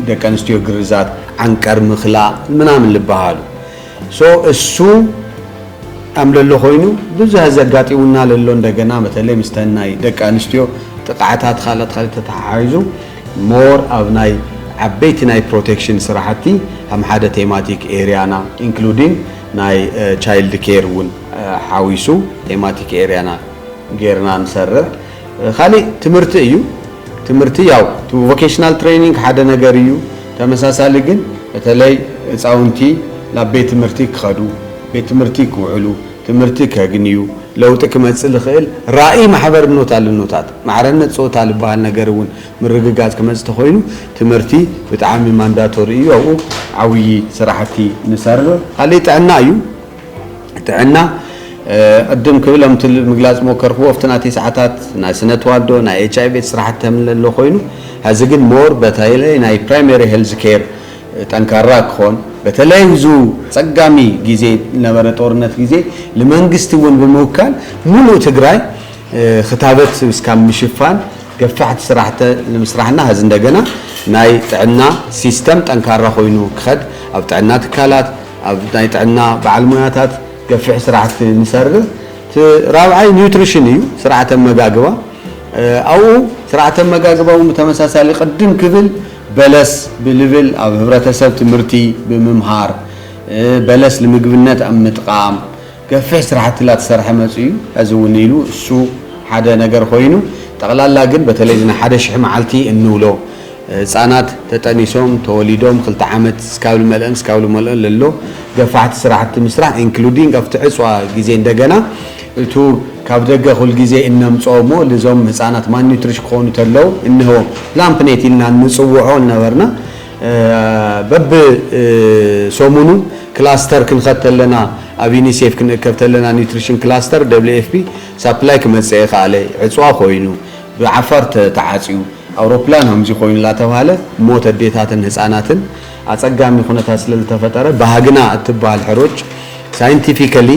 ደቂ ኣንስትዮ ግርዛት፣ ዓንቀር ምኽላ ምናምን ልበሃሉ። so እሱ ኣም ለሎ ኾይኑ ብዙሀ ዘጋጢሙና ለሎ እንደገና በተለይ ምስተን ናይ ደቂ ኣንስትዮ ጥቕዓታት ኻልእት ኻልእት ተተሓሒዙ more ኣብ ናይ ዓበይቲ ናይ ፕሮቴክሽን ስራሕቲ ሀም ሓደ ቴማቲክ ኤርያና ኢንክሉዲንግ ናይ ቻይልድ ኬር እውን ሓዊሱ ቴማቲክ ኤርያና ጌርና ንሰርሕ። ካሊእ ትምህርቲ እዩ። ትምህርቲ ያው ቮኬሽናል ትሬኒንግ ሓደ ነገር እዩ። ተመሳሳሊ ግን በተለይ ህፃውንቲ ናብ ቤት ትምህርቲ ክኸዱ፣ ቤት ትምህርቲ ክውዕሉ፣ ትምህርቲ ከግንዩ፣ ለውጢ ክመፅእ ልኽእል ራእይ ማሕበርኖት ኣልኖታት ማዕረነት ፆታ ልበሃል ነገር እውን ምርግጋፅ ክመፅ ተኾይኑ ትምህርቲ ብጣዕሚ ማንዳቶሪ እዩ ኣብኡ ዓውዪ ስራሕቲ ንሰርር ካሊእ ጥዕና እዩ ጥዕና ቅድም ክብል ኣምቲ ምግላፅ ሞከርክዎ ኣብቲ ናተይ ሰዓታት ናይ ስነ ተዋልዶ ናይ ኤች ኣይ ቤት ስራሕቲ ተምለሎ ኮይኑ ሀዚ ግን ሞር በተለይ ናይ ፕራይመሪ ሄልዝ ኬር ጠንካራ ክኾን በተለይ ብዙ ፀጋሚ ጊዜ ነበረ ጦርነት ጊዜ ልመንግስቲ እውን ብምውካል ሙሉእ ትግራይ ክታበት እስካብ ምሽፋን ገፋሕቲ ስራሕተ ንምስራሕና ሀዚ እንደገና ናይ ጥዕና ሲስተም ጠንካራ ኮይኑ ክኸድ ኣብ ጥዕና ትካላት ኣብ ናይ ጥዕና በዓል ሞያታት ገፊሕ ስራሕቲ ንሰርህ እቲ ራብዓይ ኒውትሪሽን እዩ ስርዓተ ኣመጋግባ ኣብኡ ስርዓተ ኣመጋግባ እውን ብተመሳሳሊ ቅድም ክብል በለስ ብልብል ኣብ ህብረተሰብ ትምህርቲ ብምምሃር በለስ ንምግብነት ኣብ ምጥቃም ገፊሕ ስራሕቲ ላተሰርሐ መፅዩ እዩ ሀዚ እውን ኢሉ እሱ ሓደ ነገር ኾይኑ ጠቅላላ ግን በተለይ እዚ ናይ ሓደ ሽሕ መዓልቲ እንብሎ ህፃናት ተጠኒሶም ተወሊዶም ክልተ ዓመት እስካብ ልመልእን እስካብ ልመልኦን ለሎ ገፋሕቲ ስራሕቲ ምስራሕ ኢንክሉዲንግ ኣብቲ ዕፅዋ ግዜ እንደገና እቱ ካብ ደገ ኩል ግዜ እነምፅኦ እሞ ልዞም ህፃናት ማልኒትሪሽ ክኾኑ ተለው እንህቦም ፕላን ፕኔት ኢልና እንፅውዖ ልነበርና በብ ሰሙኑ ክላስተር ክንኸድ ተለና ኣብ ዩኒሴፍ ክንእከብ ተለና ኒውትሪሽን ክላስተር WFP ሳፕላይ ክመጽእ ኣይኸኣለ ዕጽዋ ኮይኑ ብዓፋር ተዓጽዩ ኣውሮፕላን ከምዚ ኮይኑ እናተባህለ ሞት ኣዴታትን ህጻናትን ኣጸጋሚ ኩነታት ስለዝተፈጠረ ባህግና እትበሃል ሕሩጭ ሳይንቲፊካሊ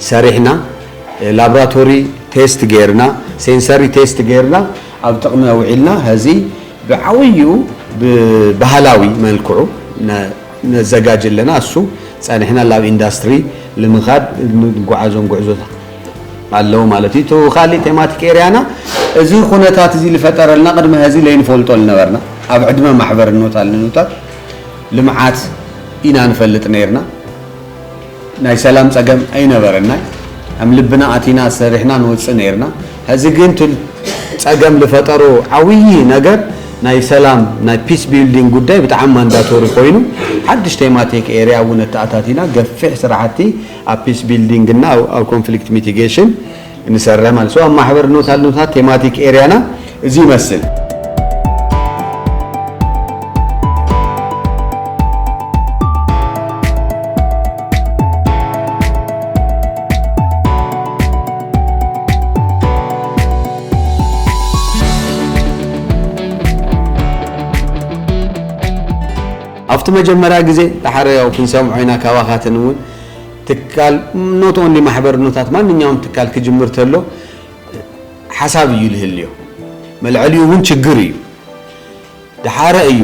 ሰሪሕና ላብራቶሪ ቴስት ገይርና ሴንሰሪ ቴስት ገይርና ኣብ ጥቕሚ ኣውዒልና ሀዚ ብዓብዩ ብባህላዊ መልክዑ ነዘጋጅ ኣለና እሱ ጸኒሕና ላብ ኢንዳስትሪ ልምኻድ ንጉዓዞም ጉዕዞታት ኣለዉ ማለት እዩ እቱ ካሊእ ቴማቲክ ኤርያና እዚ ኩነታት እዚ ልፈጠረልና ቅድሚ ሀዚ ለይንፈልጦ ልነበርና ኣብ ዕድመ ማሕበርኖታል ንኑታት ልምዓት ኢና ንፈልጥ ነይርና ናይ ሰላም ጸገም ኣይነበረናይ ኣም ልብና ኣቲና ሰሪሕና ንወጽእ ነይርና ሀዚ ግን ትል ጸገም ልፈጠሮ ዓውዪ ነገር ናይ ሰላም ናይ ፒስ ቢልዲንግ ጉዳይ ብጣዕሚ ማንዳቶሪ ኮይኑ ሓድሽ ቴማቲክ ኤርያ እውን ኣተኣታቲና ገፊሕ ስራሕቲ ኣብ ፒስ ቢልዲንግ እና ኣብ ኮንፍሊክት ሚቲጌሽን እንሰርሕ ማለት ሰው ማሕበር ኖት ኣልኖታት ቴማቲክ ኤሪያና እዚ ይመስል። ኣብቲ መጀመርያ ግዜ ዳሓር ያው ክንሰምዖ ኢና ካባኻትን'ውን ትካል ኖት ኦንሊ ማሕበርኖታት ማንኛውም ትካል ክጅምር ተሎ ሓሳብ እዩ ልህልዮ መልዐልዩ እውን ችግር እዩ ድሓረ እዩ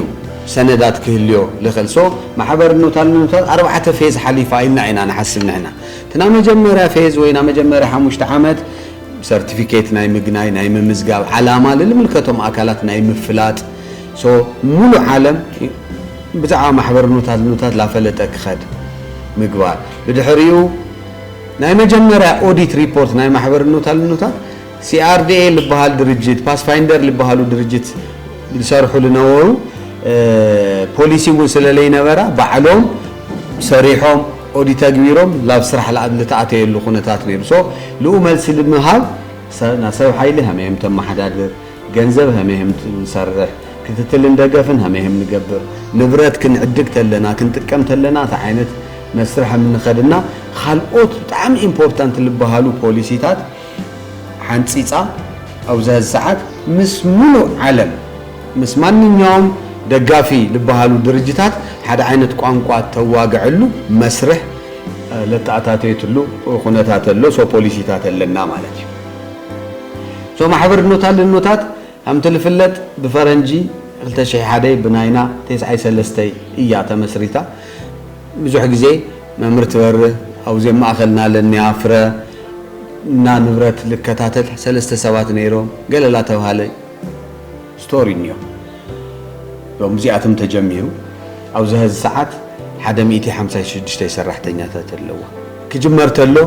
ሰነዳት ክህልዮ ልኽእል ሶ ማሕበርኖታልኖታት ኣርባዕተ ፌዝ ሓሊፋ ኢልና ኢና ንሓስብ ንሕና እቲ ና መጀመርያ ፌዝ ወይ ና መጀመርያ ሓሙሽተ ዓመት ሰርቲፊኬት ናይ ምግናይ ናይ ምምዝጋብ ዓላማ ልልምልከቶም ኣካላት ናይ ምፍላጥ So ሙሉእ ዓለም ብዛዕባ ማሕበር ኑታት ኑታት ላፈለጠ ክኸድ ምግባር ብድሕሪኡ ናይ መጀመርያ ኦዲት ሪፖርት ናይ ማሕበር ኑታል ኑታት CRDA ልበሃል ድርጅት ፓስፋይንደር ልበሃሉ ድርጅት ዝሰርሑ ልነበሩ ፖሊሲ እውን ስለለይነበራ ባዕሎም ሰሪሖም ኦዲት ኣግቢሮም ላብ ስራሕ ላኣብ ልተኣተየሉ ኩነታት ነይሩ so ልኡ መልሲ ልምሃብ ሰብ ሓይሊ ሃመይ እም ተመሓዳድር ገንዘብ ሀሜህም ንሰርሕ፣ ክትትልን ደገፍን ሀሜህም ንገብር፣ ንብረት ክንዕድግ ተለና፣ ክንጥቀም ተለና ታይ ዓይነት መስርሕ ሀም ንኸድ እና ኻልኦት ብጣዕሚ ኢምፖርታንት ልበሃሉ ፖሊሲታት ሓንፂፃ ኣብዚ ሀዚ ሰዓት ምስ ሙሉእ ዓለም ምስ ማንኛውም ደጋፊ ልበሃሉ ድርጅታት ሓደ ዓይነት ቋንቋ ተዋገዐሉ መስርሕ ለተኣታተየትሉ ኹነታት ኣሎ። ሶ ፖሊሲታት ኣለና ማለት እዩ። እዞም ኣሕብርኖታ ልኖታት ከምቲ ልፍለጥ ብፈረንጂ ክልተ ሽሕ ሓደይ ብናይና ቴስዓይ ሰለስተይ እያ ተመስሪታ ብዙሕ ግዜ መምህር ትበርህ ኣውዜ ማእኸልና ለንያ ፍረ እና ንብረት ልከታተል ሰለስተ ሰባት ነይሮም ገለ ላተብሃለ ስቶሪ እንዮ ሎም እዚኣቶም ተጀሚሩ ኣብዚ ሀዚ ሰዓት ሓደ ሚእቲ ሓምሳይ ሽዱሽተይ ሰራሕተኛታት ኣለዋ ክጅመር ተሎ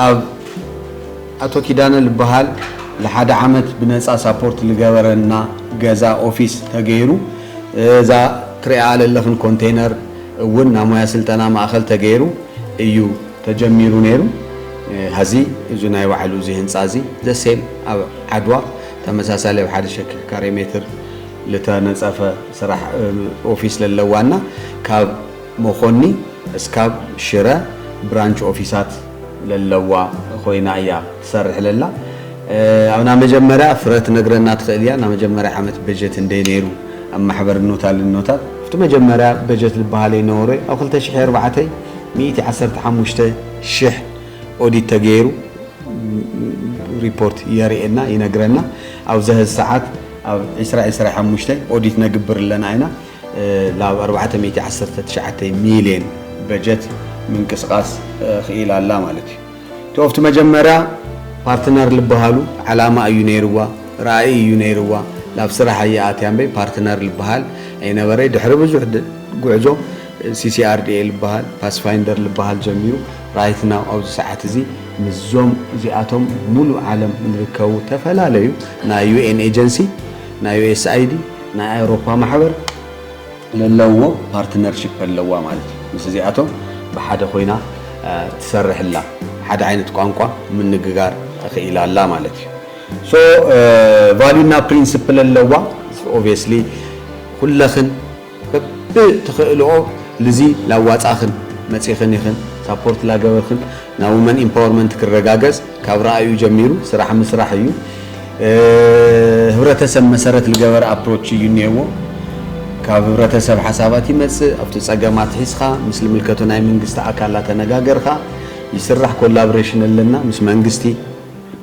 ኣብ ኣቶ ኪዳነ ልበሃል ልሓደ ዓመት ብነጻ ሳፖርት ልገበረና ገዛ ኦፊስ ተገይሩ እዛ ትሪኣኣ ለለኽን ኮንቴነር እውን ናይ ሞያ ስልጠና ማእኸል ተገይሩ እዩ ተጀሚሩ ነይሩ ሀዚ እዚ ናይ ባዕሉ እዚ ህንጻ እዚ the same ኣብ ዓድዋ ተመሳሳሊ ኣብ ሓደ ሸኪ ካሬ ሜትር ልተነጸፈ ስራሕ ኦፊስ ለለዋ እና ካብ መኮኒ እስካብ ሽረ ብራንች ኦፊሳት ለለዋ ኮይና እያ ትሰርሕ ለላ ኣብ ናመጀመርያ ፍረ ትነግረና ትክእል እያ ናመጀመርያ ዓመት በጀት እንደይ ነይሩ ኣብ ማሕበር እኖታ ልኖታት ኣብቲ መጀመርያ በጀት ልባሃል እይ ነበሮ ኣብ ክልተ ሽሕይ ኣርባዕተ ሚእቲ ዓሰርተ ሓሙሽተ ሽሕ ኦዲት ተገይሩ ሪፖርት የርእየና ይነግረና ኣብዘሀዚ ሰዓት ኣብ ዕስራ ዕስራ ሓሙሽተ ኦዲት ነግብር ኣለና እይና ላብ ኣርባዕተ ሚእቲ ዓሰርተ ትሽዓተ ሚልየን በጀት ምንቅስቃስ ኽኢላ ኣላ ማለት እዩ። እቲ ኦፍቲ መጀመርያ ፓርትነር ልበሃሉ ዓላማ እዩ ነይርዋ፣ ራኢ እዩ ነይርዋ፣ ላብ ስራሕ ኣያ ኣትያ እምበይ ፓርትነር ልበሃል ኣይነበረይ። ድሕሪ ብዙሕ ጉዕዞ CCRDA ልበሃል፣ ፓስፋይንደር ልበሃል ጀሚሩ ራይት ናው ኣብዚ ሰዓት እዚ ምስዞም እዚኣቶም ሙሉእ ዓለም ልርከቡ ተፈላለዩ ናይ UN ኤጀንሲ፣ ናይ USAID፣ ናይ ኣውሮፓ ማሕበር ለለውዎ ፓርትነርሺፕ ኣለዋ ማለት እዩ። ምስ እዚኣቶም ብሓደ ኮይና ትሰርሕ ኣላ። ሓደ ዓይነት ቋንቋ ምንግጋር ኽኢላ ኣላ ማለት እዩ። ሶ ቫልዩ እና ፕሪንስፕል ኣለዋ። ኦብየስሊ ኩለኽን በቢ ትኽእልኦ ልዚ ላዋጻኽን መጺኽን ኢኽን ሳፖርት ላገበርኽን ናይ ውመን ኢምፓወርመንት ክረጋገጽ ካብ ራእዩ ጀሚሩ ስራሕ ምስራሕ እዩ። ህብረተሰብ መሰረት ልገበረ ኣፕሮች እዩ እኔዎ። ካብ ህብረተሰብ ሓሳባት ይመፅእ፣ ኣብቲ ፀገም ኣትሒዝኻ ምስ ልምልከቶ ናይ መንግስቲ ኣካል ኣተነጋገርኻ ይስራሕ፣ ኮላብሬሽን ኣለና ምስ መንግስቲ፣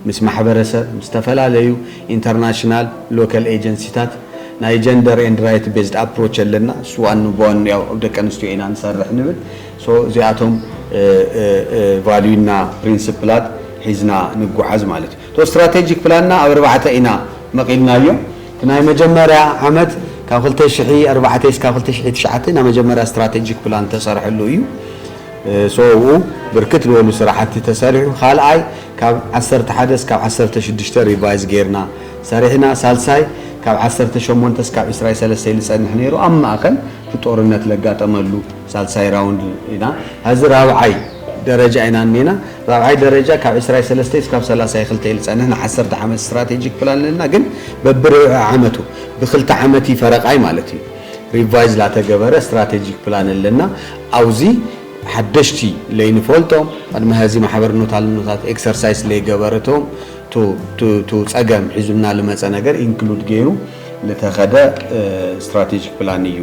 ምስ ማሕበረሰብ፣ ምስ ዝተፈላለዩ ኢንተርናሽናል፣ ሎከል ኤጀንሲታት፣ ናይ ጀንደር ኤንድ ራይት ቤዝድ ኣፕሮች ኣለና፣ እሱ ዋኑ ብዋኑ ያው ኣብ ደቂ ኣንስትዮ ኢና ንሰርሕ ንብል፣ ሶ እዚኣቶም ቫልዩ እና ፕሪንስፕላት ሒዝና ንጎዓዝ ማለት እዩ። እቶ ስትራቴጂክ ፕላንና ኣብ ኣርባዕተ ኢና መቂልናዮ። እቲ ናይ መጀመርያ ዓመት ካብ ክልተ ሽሕ ኣርባዕተ እስካብ ክልተ ሽሕ ትሽዓተ ናይ መጀመርያ ስትራቴጂክ ፕላን ዝተሰርሐሉ እዩ። ሶ ኣብኡ ብርክት ልበሉ ስራሕቲ ተሰሪሑ። ካልኣይ ካብ ዓሰርተ ሓደ እስካብ ዓሰርተ ሽዱሽተ ሪቫይዝ ገይርና ሰሪሕና። ሳልሳይ ካብ ዓሰርተ ሸሞንተ እስካብ ዕስራይ ሰለስተ እዩ ልፀንሕ ነይሩ ኣብ ማእኸል እቲ ጦርነት ለጋጠመሉ። ሳልሳይ ራውንድ ኢና ሀዚ ራብዓይ ደረጃ ኢና እኒና ራብዓይ ደረጃ ካብ ዕስራይ ሰለስተይ እስካብ ሰላሳይ ክልተ እዩ ዝፀንሕ ንዓሰርተ ዓመት ስትራቴጂክ ፕላን ኣለና ግን በብርብዒ ዓመቱ ብክልተ ዓመት ፈረቃይ ማለት እዩ ሪቫይዝ ላተገበረ ስትራቴጂክ ፕላን ኣለና ኣውዚ ሓደሽቲ ለይንፈልጦም ቅድሚ ሀዚ ማሕበር ኖታልኖታት ኤክሰርሳይስ ለይገበረቶም ቱ ፀገም ሒዙልና ልመፀ ነገር ኢንክሉድ ገይሩ ልተኸደ ስትራቴጂክ ፕላን እዩ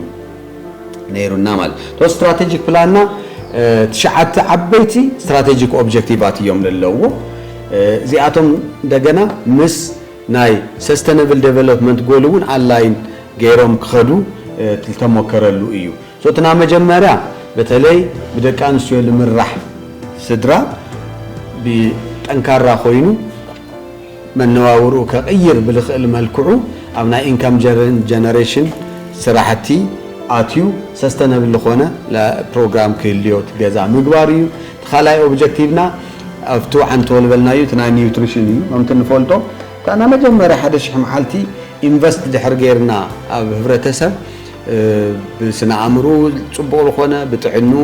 ነይሩና ማለት እዩ። እቶ ስትራቴጂክ ፕላንና ትሽዓተ ዓበይቲ ስትራቴጂክ ኦብጀክቲቫት እዮም ለለውዎ። እዚኣቶም እንደገና ምስ ናይ ሰስተነብል ደቨሎፕመንት ጎል እውን ኣላይን ገይሮም ክኸዱ ዝተሞከረሉ እዩ። እቲ ናይ መጀመርያ በተለይ ብደቂ ኣንስትዮ ልምራሕ ስድራ ብጠንካራ ኮይኑ መነባብርኡ ከቕይር ብልኽእል መልክዑ ኣብ ናይ ኢንካም ጀነሬሽን ስራሕቲ ኣትዩ ሰስተነብል ልኾነ ፕሮግራም ክህልዮ እቲ ገዛ ምግባር እዩ። እቲ ካልኣይ ኦብጀክቲቭና ኣብቲ ወዓንቶ ልበልናዩ እቲ ናይ ኒውትሪሽን እዩ። ከምቲ ንፈልጦ እታ ናይ መጀመርያ ሓደ ሽሕ መዓልቲ ኢንቨስት ድሕሪ ገይርና ኣብ ህብረተሰብ፣ ብስነ ኣእምርኡ ጽቡቕ ልኾነ ብጥዕንኡ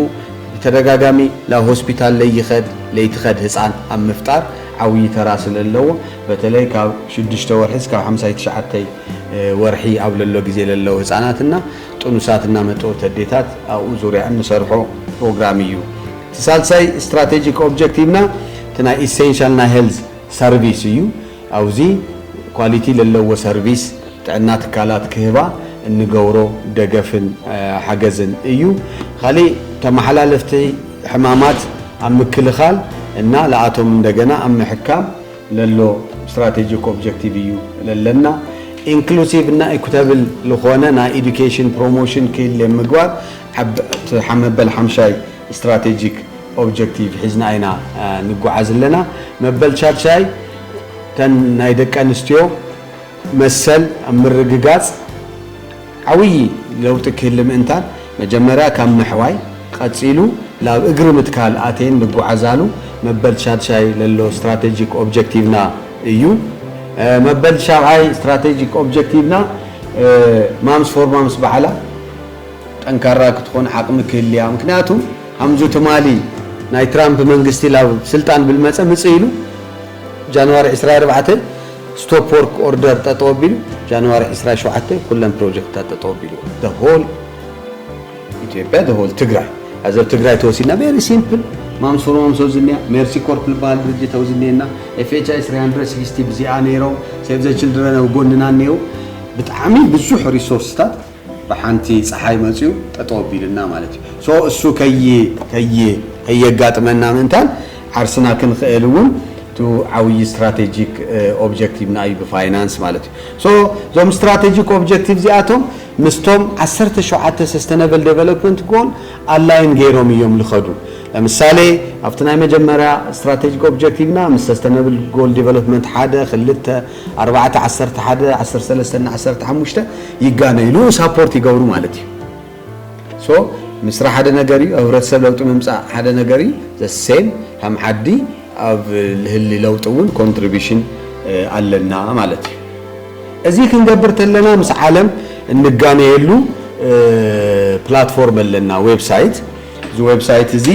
ብተደጋጋሚ ናብ ሆስፒታል ለይኸድ ለይትኸድ ህጻን ኣብ ምፍጣር ዓውዪ ተራ ስለለዎ በተለይ ካብ ሽዱሽተ ወርሒ እስካብ ሓምሳይ ትሽዓተይ ወርሒ ኣብ ለሎ ግዜ ለለዉ ህጻናት እና ጥኑሳት እና መጥበብቲ ኣዴታት ኣብኡ ዙርያ እንሰርሖ ፕሮግራም እዩ። እቲ ሳልሳይ ስትራቴጂክ ኦብጀክቲቭና እቲ ናይ ኢሴንሻል ናይ ሄልዝ ሰርቪስ እዩ። ኣውዚ ኳሊቲ ለለዎ ሰርቪስ ጥዕና ትካላት ክህባ እንገብሮ ደገፍን ሓገዝን እዩ። ኻሊእ ተመሓላለፍቲ ሕማማት ኣብ ምክልኻል እና ለኣቶም እንደገና ኣብ ምሕካም ለሎ ስትራቴጂክ ኦብጀክቲቭ እዩ ለለና። ኢንክሉሲቭ እና ኢኩተብል ልኾነ ናይ ኢዱኬሽን ፕሮሞሽን ክህሌ ምግባር ኣብ ትሓመበል ሓምሻይ ስትራቴጂክ ኦብጀክቲቭ ሒዝና ኢና ንጎዓዝ ኣለና። መበል ሻድሻይ እተን ናይ ደቂ ኣንስትዮ መሰል ኣብ ምርግጋፅ ዓብዪ ለውጢ ክህሊ ምእንታን መጀመርያ ካብ ምሕዋይ ቐፂሉ ላብ እግሪ ምትካል ኣትየን ንጎዓዛሉ መበል ሻድሻይ ለሎ ስትራቴጂክ ኦብጀክቲቭና እዩ። መበል ሻብዓይ ስትራቴጂክ ኦብጀክቲቭና ማምስ ፎር ማምስ ባዕላ፣ ጠንካራ ክትኾን ዓቅሚ ክህልያ ምክንያቱ ኣምዙ ትማሊ ናይ ትራምፕ መንግስቲ ላብ ስልጣን ብልመፀ ምፅ ኢሉ ጃንዋሪ ዕስራ ኣርባዕተ ስቶፕ ወርክ ኦርደር ጠጠው ኣቢሉ ጃንዋሪ ዕስራ ሸውዓተ ኩለን ፕሮጀክትታት ጠጠው ኣቢሉ the whole ኢትዮጵያ the whole ትግራይ ኣዘብ ትግራይ ተወሲድና ቬሪ ሲምፕል ማምሱሩ ማምሶ ዝኒያ ሜርሲ ኮርፕ ዝበሃል ድርጅት ኣብ ዝኒየና ኤፍኤችኣይ 360 ብዚኣ ነይሮም ሴቭ ዘ ችልድረን ኣብ ጎንና እኒው ብጣዕሚ ብዙሕ ሪሶርስታት ብሓንቲ ጸሓይ መጽዩ ጠጠው ኣቢሉና ማለት እዩ so እሱ ከይ ከይ ከየጋጥመና ምእንታን ዓርስና ክንኽእል እውን እቱ ዓውዪ ስትራቴጂክ ኦብጀክቲቭና እዩ ብፋይናንስ ማለት እዩ so እዞም ስትራቴጂክ ኦብጀክቲቭ እዚኣቶም ምስቶም ዓሰርተ ሸውዓተ ሰስተነብል ዴቨሎፕመንት ጎል ኣላይን ገይሮም እዮም ዝኸዱ ለምሳሌ ኣብቲ ናይ መጀመርያ ስትራቴጂክ ኦብጀክቲቭና ምስ ሰስተነብል ጎል ዴቨሎፕመንት ሓደ ክልተ ኣርባዕተ ዓሰርተ ሓደ ዓሰርተ ሰለስተ እና ዓሰርተ ሓሙሽተ ይጋነዩ ንኡ ሳፖርት ይገብሩ ማለት እዩ ሶ ምስራሕ ሓደ ነገር እዩ ኣብ ህብረተሰብ ለውጢ ምምፃእ ሓደ ነገር እዩ ዘሴም ከም ዓዲ ኣብ ልህሊ ለውጢ እውን ኮንትሪቢሽን ኣለና ማለት እዩ እዚ ክንገብር ተለና ምስ ዓለም እንጋነየሉ ፕላትፎርም ኣለና ዌብሳይት እዚ ዌብሳይት እዚ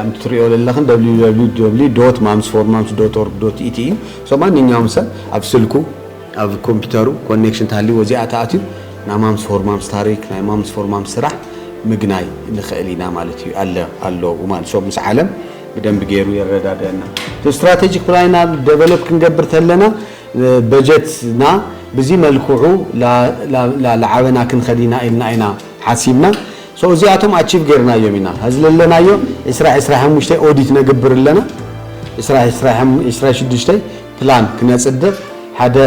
ኣም ትሪኦ ዘለኽን www ማምስ ፎር ማምስ ዶት ኦርግ ዶት ኢቲ እዩ So ማንኛውም ሰብ ኣብ ስልኩ ኣብ ኮምፒተሩ ኮኔክሽን ተሃልይዎ እዚኣ ተኣትዩ ናይ ማምስ ፎር ማምስ ታሪክ ናይ ማምስ ፎር ማምስ ስራሕ ምግናይ ንክእል ኢና ማለት እዩ ኣለ ኣለዉ ማለት ሶ ምስ ዓለም ብደንብ ገይሩ የረዳድአና እቲ ስትራቴጂክ ፕላንና ደቨሎፕ ክንገብር ተለና በጀትና ብዚ መልክዑ ላዓበና ክንኸድ ኢና ኢልና ኢና ሓሲብና So እዚኣቶም ኣቺቭ ጌርናዮም ኢና ሀዚ ለለናዮ ዕስራ ዕስራይ ሓሙሽተ ኦዲት ነግብር ኣለና ዕስራ ዕስራይ ዕስራይ ሽዱሽተ ፕላን ክነፅድቅ ሓደ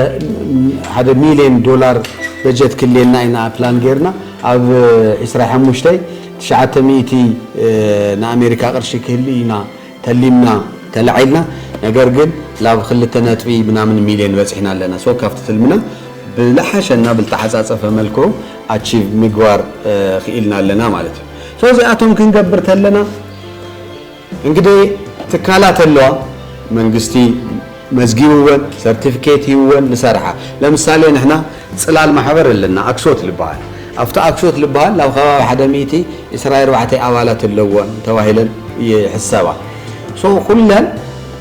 ሓደ ሚልየን ዶላር በጀት ክልየና ኢና ፕላን ጌርና ኣብ ዕስራይ ሓሙሽተ ትሽዓተ ሚእቲ ንኣሜሪካ ቅርሺ ክህሊ ኢና ተሊምና ተላዒልና ነገር ግን ላብ ክልተ ነጥቢ ምናምን ሚልዮን በፂሕና ኣለና so ካብቲ ትልምና ብላሓሸ እና ብልተዓፃፀፈ መልክዑ ኣቺቭ ምግባር ኪኢልና ኣለና ማለት እዩ so እዚኣቶም ክንገብር ተለና እንግዲህ ትካላት ኣለዋ መንግስቲ መዝጊብወን ሰርቲፍኬት ሂብወን ልሰርሓ ለምሳሌ ንሕና ጽላል ማሕበር ኣለና ኣክሶት ልበሃል ኣብቲ ኣክሶት ልበሃል ናብ ከባቢ ሓደ ሚእቲ ዕስራ ኣርባዕተ ኣባላት ኣለወን ተባሂለን ይሕሰባ so ኩለን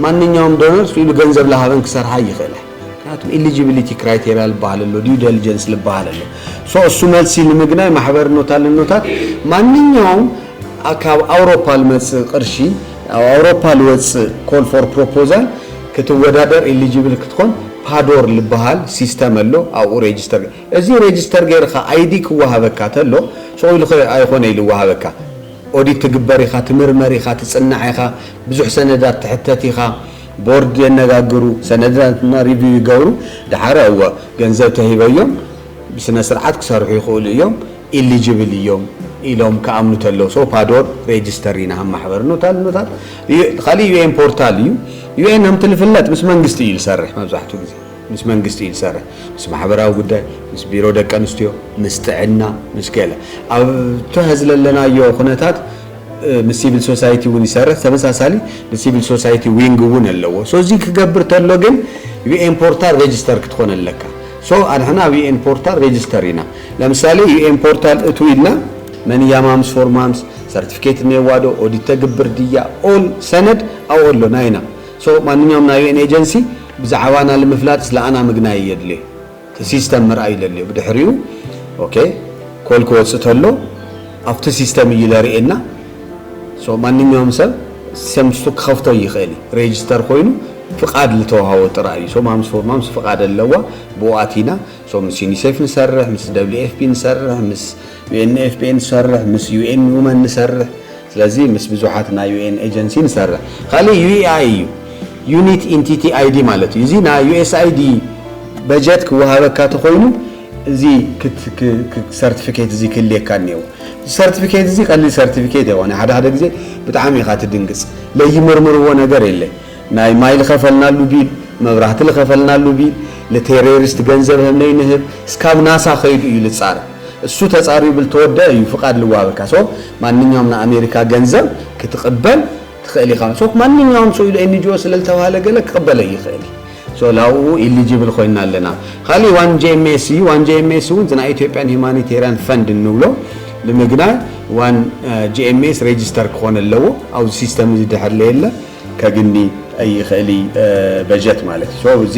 ማንኛውም ዶነር ኢሉ ገንዘብ ልሃበን ክሰርሓ ኣይኽእለን ምክንያቱም ኤሊጂቢሊቲ ክራይቴሪያ ልበሃል ኣሎ ዲዩ ደልጀንስ ልበሃል ኣሎ so እሱ መልሲ ንምግናይ ማሕበርኖት ኣለኖታት ማንኛውም ካብ ኣውሮፓ ልመጽእ ቅርሺ ኣብ ኣውሮፓ ልወጽእ ኮል ፎር ፕሮፖዛል ክትወዳደር ኤሊጅብል ክትኮን ፓዶር ልበሃል ሲስተም ኣሎ ኣብኡ ሬጅስተር ገር እዚ ሬጅስተር ገርካ ኣይዲ ክወሃበካ ተሎ ሱቅ ኢሉ ከ ኣይኮነ ኢሉ ይወሃበካ ኦዲት ትግበር ኢካ ትምርመር ኢካ ትጽናዕ ኢካ ብዙሕ ሰነዳት ትሕተት ኢካ ቦርድ የነጋግሩ ሰነዳትና ሪቪው ይገብሩ ደሓር እወ ገንዘብ ተሂበዮም ብስነስርዓት ክሰርሑ ይክእሉ እዮም ኢሊጅብል እዮም ኢሎም ክኣምኑ ተለው ሶ ፓዶር ሬጅስተር ኢና ሃም ማሕበር ኖታል ኖታል ካሊእ ዩኤን ፖርታል እዩ ዩኤን ሃምቲ ልፍለጥ ምስ መንግስቲ እዩ ልሰርሕ መብዛሕትኡ ግዜ ምስ መንግስቲ እዩ ዝሰርሕ ምስ ማሕበራዊ ጉዳይ ምስ ቢሮ ደቂ ኣንስትዮ ምስ ጥዕና ምስ ገለ ኣብ ተህዝ ለለናዮ ኩነታት ምስ ሲቪል ሶሳይቲ እውን ይሰርሕ ተመሳሳሊ ንሲቪል ሶሳይቲ ዊንግ እውን ኣለዎ ሶ እዚ ክገብር ተሎ ግን ዩኤን ፖርታል ሬጅስተር ክትኮን ኣለካ So ኣንሕና ኣብ UN ፖርታል ሬጅስተር ኢና ለምሳሌ UN ፖርታል እትው ኢልና መን እያ ማምስ ፎር ማምስ ሰርቲፊኬት እኔዋ ዶ ኦዲት ተግብር ድያ ኦል ሰነድ ኣብኦ ኣሎ ናይና so ማንኛውም ናይ UN ኤጀንሲ ብዛዕባና ልምፍላጥ ስለኣና ምግናይ እዮ ድሌ እቲ ሲስተም ምርኣይ ለልዮ ብድሕሪኡ ok ኮል ክወጽእ ተሎ ኣብቲ ሲስተም እዩ ለርኤና So ማንኛውም ሰብ ሰምስቱ ክኸፍቶ ይኽእል እዩ ሬጅስተር ኮይኑ ፍቃድ ልተዋሃቦ ጥራይ እዩ so ማምስ ፎር ማምስ ፍቃድ ኣለዋ ብኡ ኣቲና so ምስ ዩኒሴፍ ንሰርሕ ምስ WFP ንሰርሕ ምስ UNFPA ንሰርሕ ምስ UN Women ንሰርሕ ስለዚ ምስ ብዙሓት ናይ UN ኤጀንሲ ንሰርሕ ካልእ UEI እዩ Unit Entity ID ማለት እዩ እዚ ናይ USAID በጀት ክወሃበካ ተኾይኑ እዚ ሰርቲፊኬት እዚ ክህልየካ እኔዎ እዚ ሰርቲፊኬት እዚ ቀሊል ሰርቲፊኬት ኣይኮነን ሓደ ሓደ ግዜ ብጣዕሚ ኢኻ ትድንግጽ ለይምርምርዎ ነገር የለ ናይ ማይ ልኸፈልናሉ ቢል መብራህቲ ልኸፈልናሉ ቢል ልቴሬሪስት ገንዘብ ህም ለይንህብ እስካብ ናሳ ከይዱ እዩ ልጻረ እሱ ተጻርዩ ብልተወደኣ እዩ ፍቃድ ልዋሃበካ ሶ ማንኛውም ንኣሜሪካ ገንዘብ ክትቅበል ትኽእል ኢኻ so ማንኛውም so ኢሉ NGO ስለልተባህለ ገለ ክቕበለይ ይኽእል እዪ so ላብኡ eligible ኾይንና ኣለና ኻሊእ one JMS እዪ one JMS እውን እቲ ናይ ኢትዮጵያን humanitarian fund እንብሎ ንምግናይ one JMS register ክኾን ኣለዎ ኣብዚ system እዚ ድሕር ለየለ ከግኒ ይኽእል እዪ በጀት ማለት እዪ so እዚ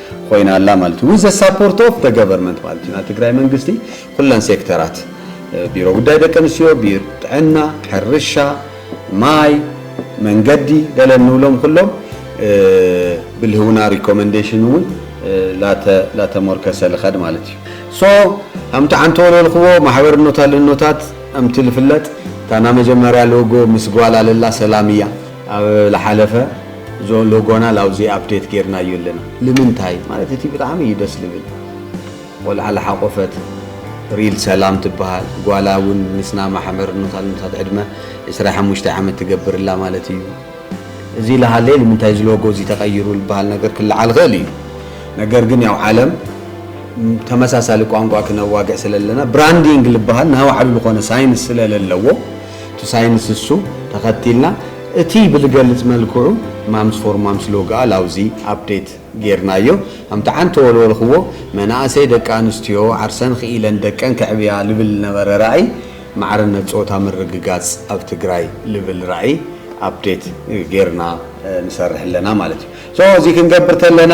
ኮይና ኣላ ማለት ዩ ዊዝ ዘ ሳፖርት ኦፍ ዘ ገቨርመንት ማለት ዩ ናይ ትግራይ መንግስቲ ኩለን ሴክተራት ቢሮ ጉዳይ ደቂ ኣንስትዮ፣ ቢሮ ጥዕና፣ ሕርሻ፣ ማይ፣ መንገዲ ገለ እንብሎም ኩሎም ብልህውና ሪኮመንዴሽን እውን ላተ ላተሞርከሰ ልኸድ ማለት እዩ ሶ ኣምቲ ዓንተወሎ ልኽቦ ማሕበርኖታ ልኖታት ኣምቲ ልፍለጥ እታ ናመጀመርያ ሎጎ ምስ ጓል ኣለላ ሰላም እያ። ኣብ ልሓለፈ ዞ ሎጎና ላውዚ ኣፕዴት ጌርናዮ ኣለና ልምንታይ ማለት እቲ ብጣዕሚ እዩ ደስ ልብል ቆልዓ ልሓቆፈት ሪል ሰላም ትብሃል ጓላ ውን ምስና ማሕበር ኖታልኖታት ዕድመ ዕስራ ሓሙሽተ ዓመት ትገብር እላ ማለት እዩ እዚ ልሃለየ ልምንታይ እዚ ሎጎ እዚ ተቀይሩ ልብሃል ነገር ክልዓል ይክእል እዩ ነገር ግን ያው ዓለም ተመሳሳሊ ቋንቋ ክነዋግዕ ስለለና ብራንዲንግ ልብሃል ናባዕሉ ልኮነ ሳይንስ ስለለለዎ እቲ ሳይንስ እሱ ተኸቲልና እቲ ብልገልፅ መልክዑ ማምስ ፎር ማምስ ሎግኣል ኣውዚ ኣፕዴት ገይርናዮ ከምቲ ዓንተ ወልወልኽዎ መናእሰይ ደቂ ኣንስትዮ ዓርሰን ኽኢለን ደቀን ከዕብያ ልብል ልነበረ ራኢ ማዕርነት ፆታ ምርግጋፅ ኣብ ትግራይ ልብል ራኢ ኣፕዴት ገይርና ንሰርሕ ኣለና ማለት እዩ። so እዚ ክንገብር ተለና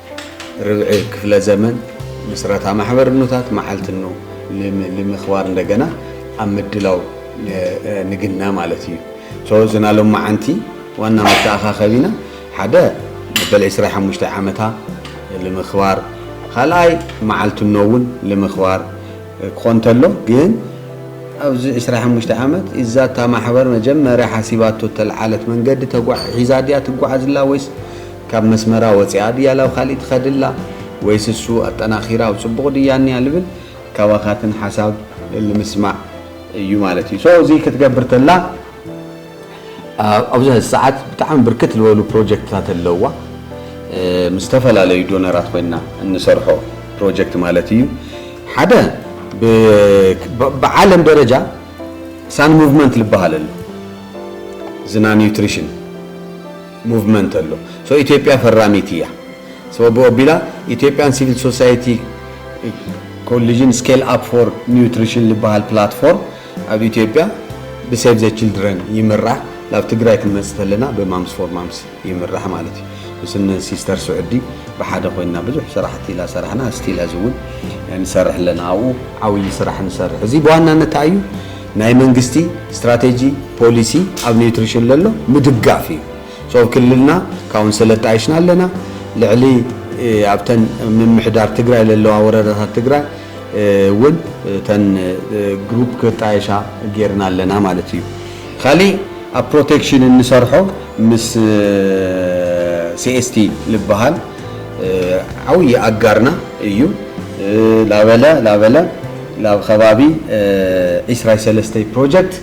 ርብዒ ክፍለ ዘመን ምስረታ ማሕበርኖታት መዓልትኖ ልምክባር እንደገና ኣብ ምድላው ንግና ማለት እዩ። ሶ ዝና ሎማዓንቲ ዋና መተኣኻኸቢና ሓደ መበል ዕስራ ሓሙሽተ ዓመታ ልምክባር ካልኣይ መዓልትኖ እውን ልምክባር ክኾን እንተሎ ግን ኣብዚ ዕስራ ሓሙሽተ ዓመት እዛ እታ ማሕበር መጀመርያ ሓሲባቶ እተልዓለት መንገዲ ተጓ ሒዛ ድያ ትጓዓዝላ ወይስ ካብ መስመራ ወጺኣ ድያ ላብ ካሊእ ትኸድ እላ ወይስ እሱ ኣጠናኺራ ኣብ ጽቡቕ ድያ እኒኣ ልብል ካባኻትን ሓሳብ ልምስማዕ እዩ ማለት እዩ so እዚ ክትገብር ተላ ኣብዚ ሕዚ ሰዓት ብጣዕሚ ብርክት ልበሉ ፕሮጀክትታት ኣለዋ ምስ ዝተፈላለዩ ዶነራት ኮይና እንሰርሖ ፕሮጀክት ማለት እዩ ሓደ ብዓለም ደረጃ ሳን ሙቭመንት ልበሃል ኣሎ ዝና ኒውትሪሽን ሞቭመንት ኣሎ ሶ ኢትዮጵያ ፈራሚት እያ ሶ ኣብኡ ኣቢላ ኢትዮጵያን ሲቪል ሶሳይቲ ኮሊዥን ስኬል ኣፕ ፎር ኒውትሪሽን ልበሃል ፕላትፎርም ኣብ ኢትዮጵያ ብሴቭ ዘ ችልድረን ይምራሕ ናብ ትግራይ ክንመፅእ ተለና ብማምስ ፎር ማምስ ይምራሕ ማለት እዩ ምስን ሲስተር ስዑዲ ብሓደ ኮይንና ብዙሕ ስራሕቲ ኢላ ሰራሕና ስቲል ሀዚ እውን ንሰርሕ ኣለና ኣብኡ ዓብዪ ስራሕ ንሰርሕ እዚ ብዋናነት እንታይ እዩ ናይ መንግስቲ ስትራቴጂ ፖሊሲ ኣብ ኒውትሪሽን ለሎ ምድጋፍ እዩ። ሶ ኣብ ክልልና ካውንስል ኣጣይሽና ኣለና። ልዕሊ ኣብተን ምምሕዳር ትግራይ ለለዋ ወረዳታት ትግራይ እውን እተን ግሩፕ ክጣየሻ ገይርና ኣለና ማለት እዩ። ካሊእ ኣብ ፕሮቴክሽን እንሰርሖ ምስ CST ልበሃል ዓውዪ ኣጋርና እዩ ላበለ ላበለ ላብ ኸባቢ ዒስራይ ሰለስተይ ፕሮጀክት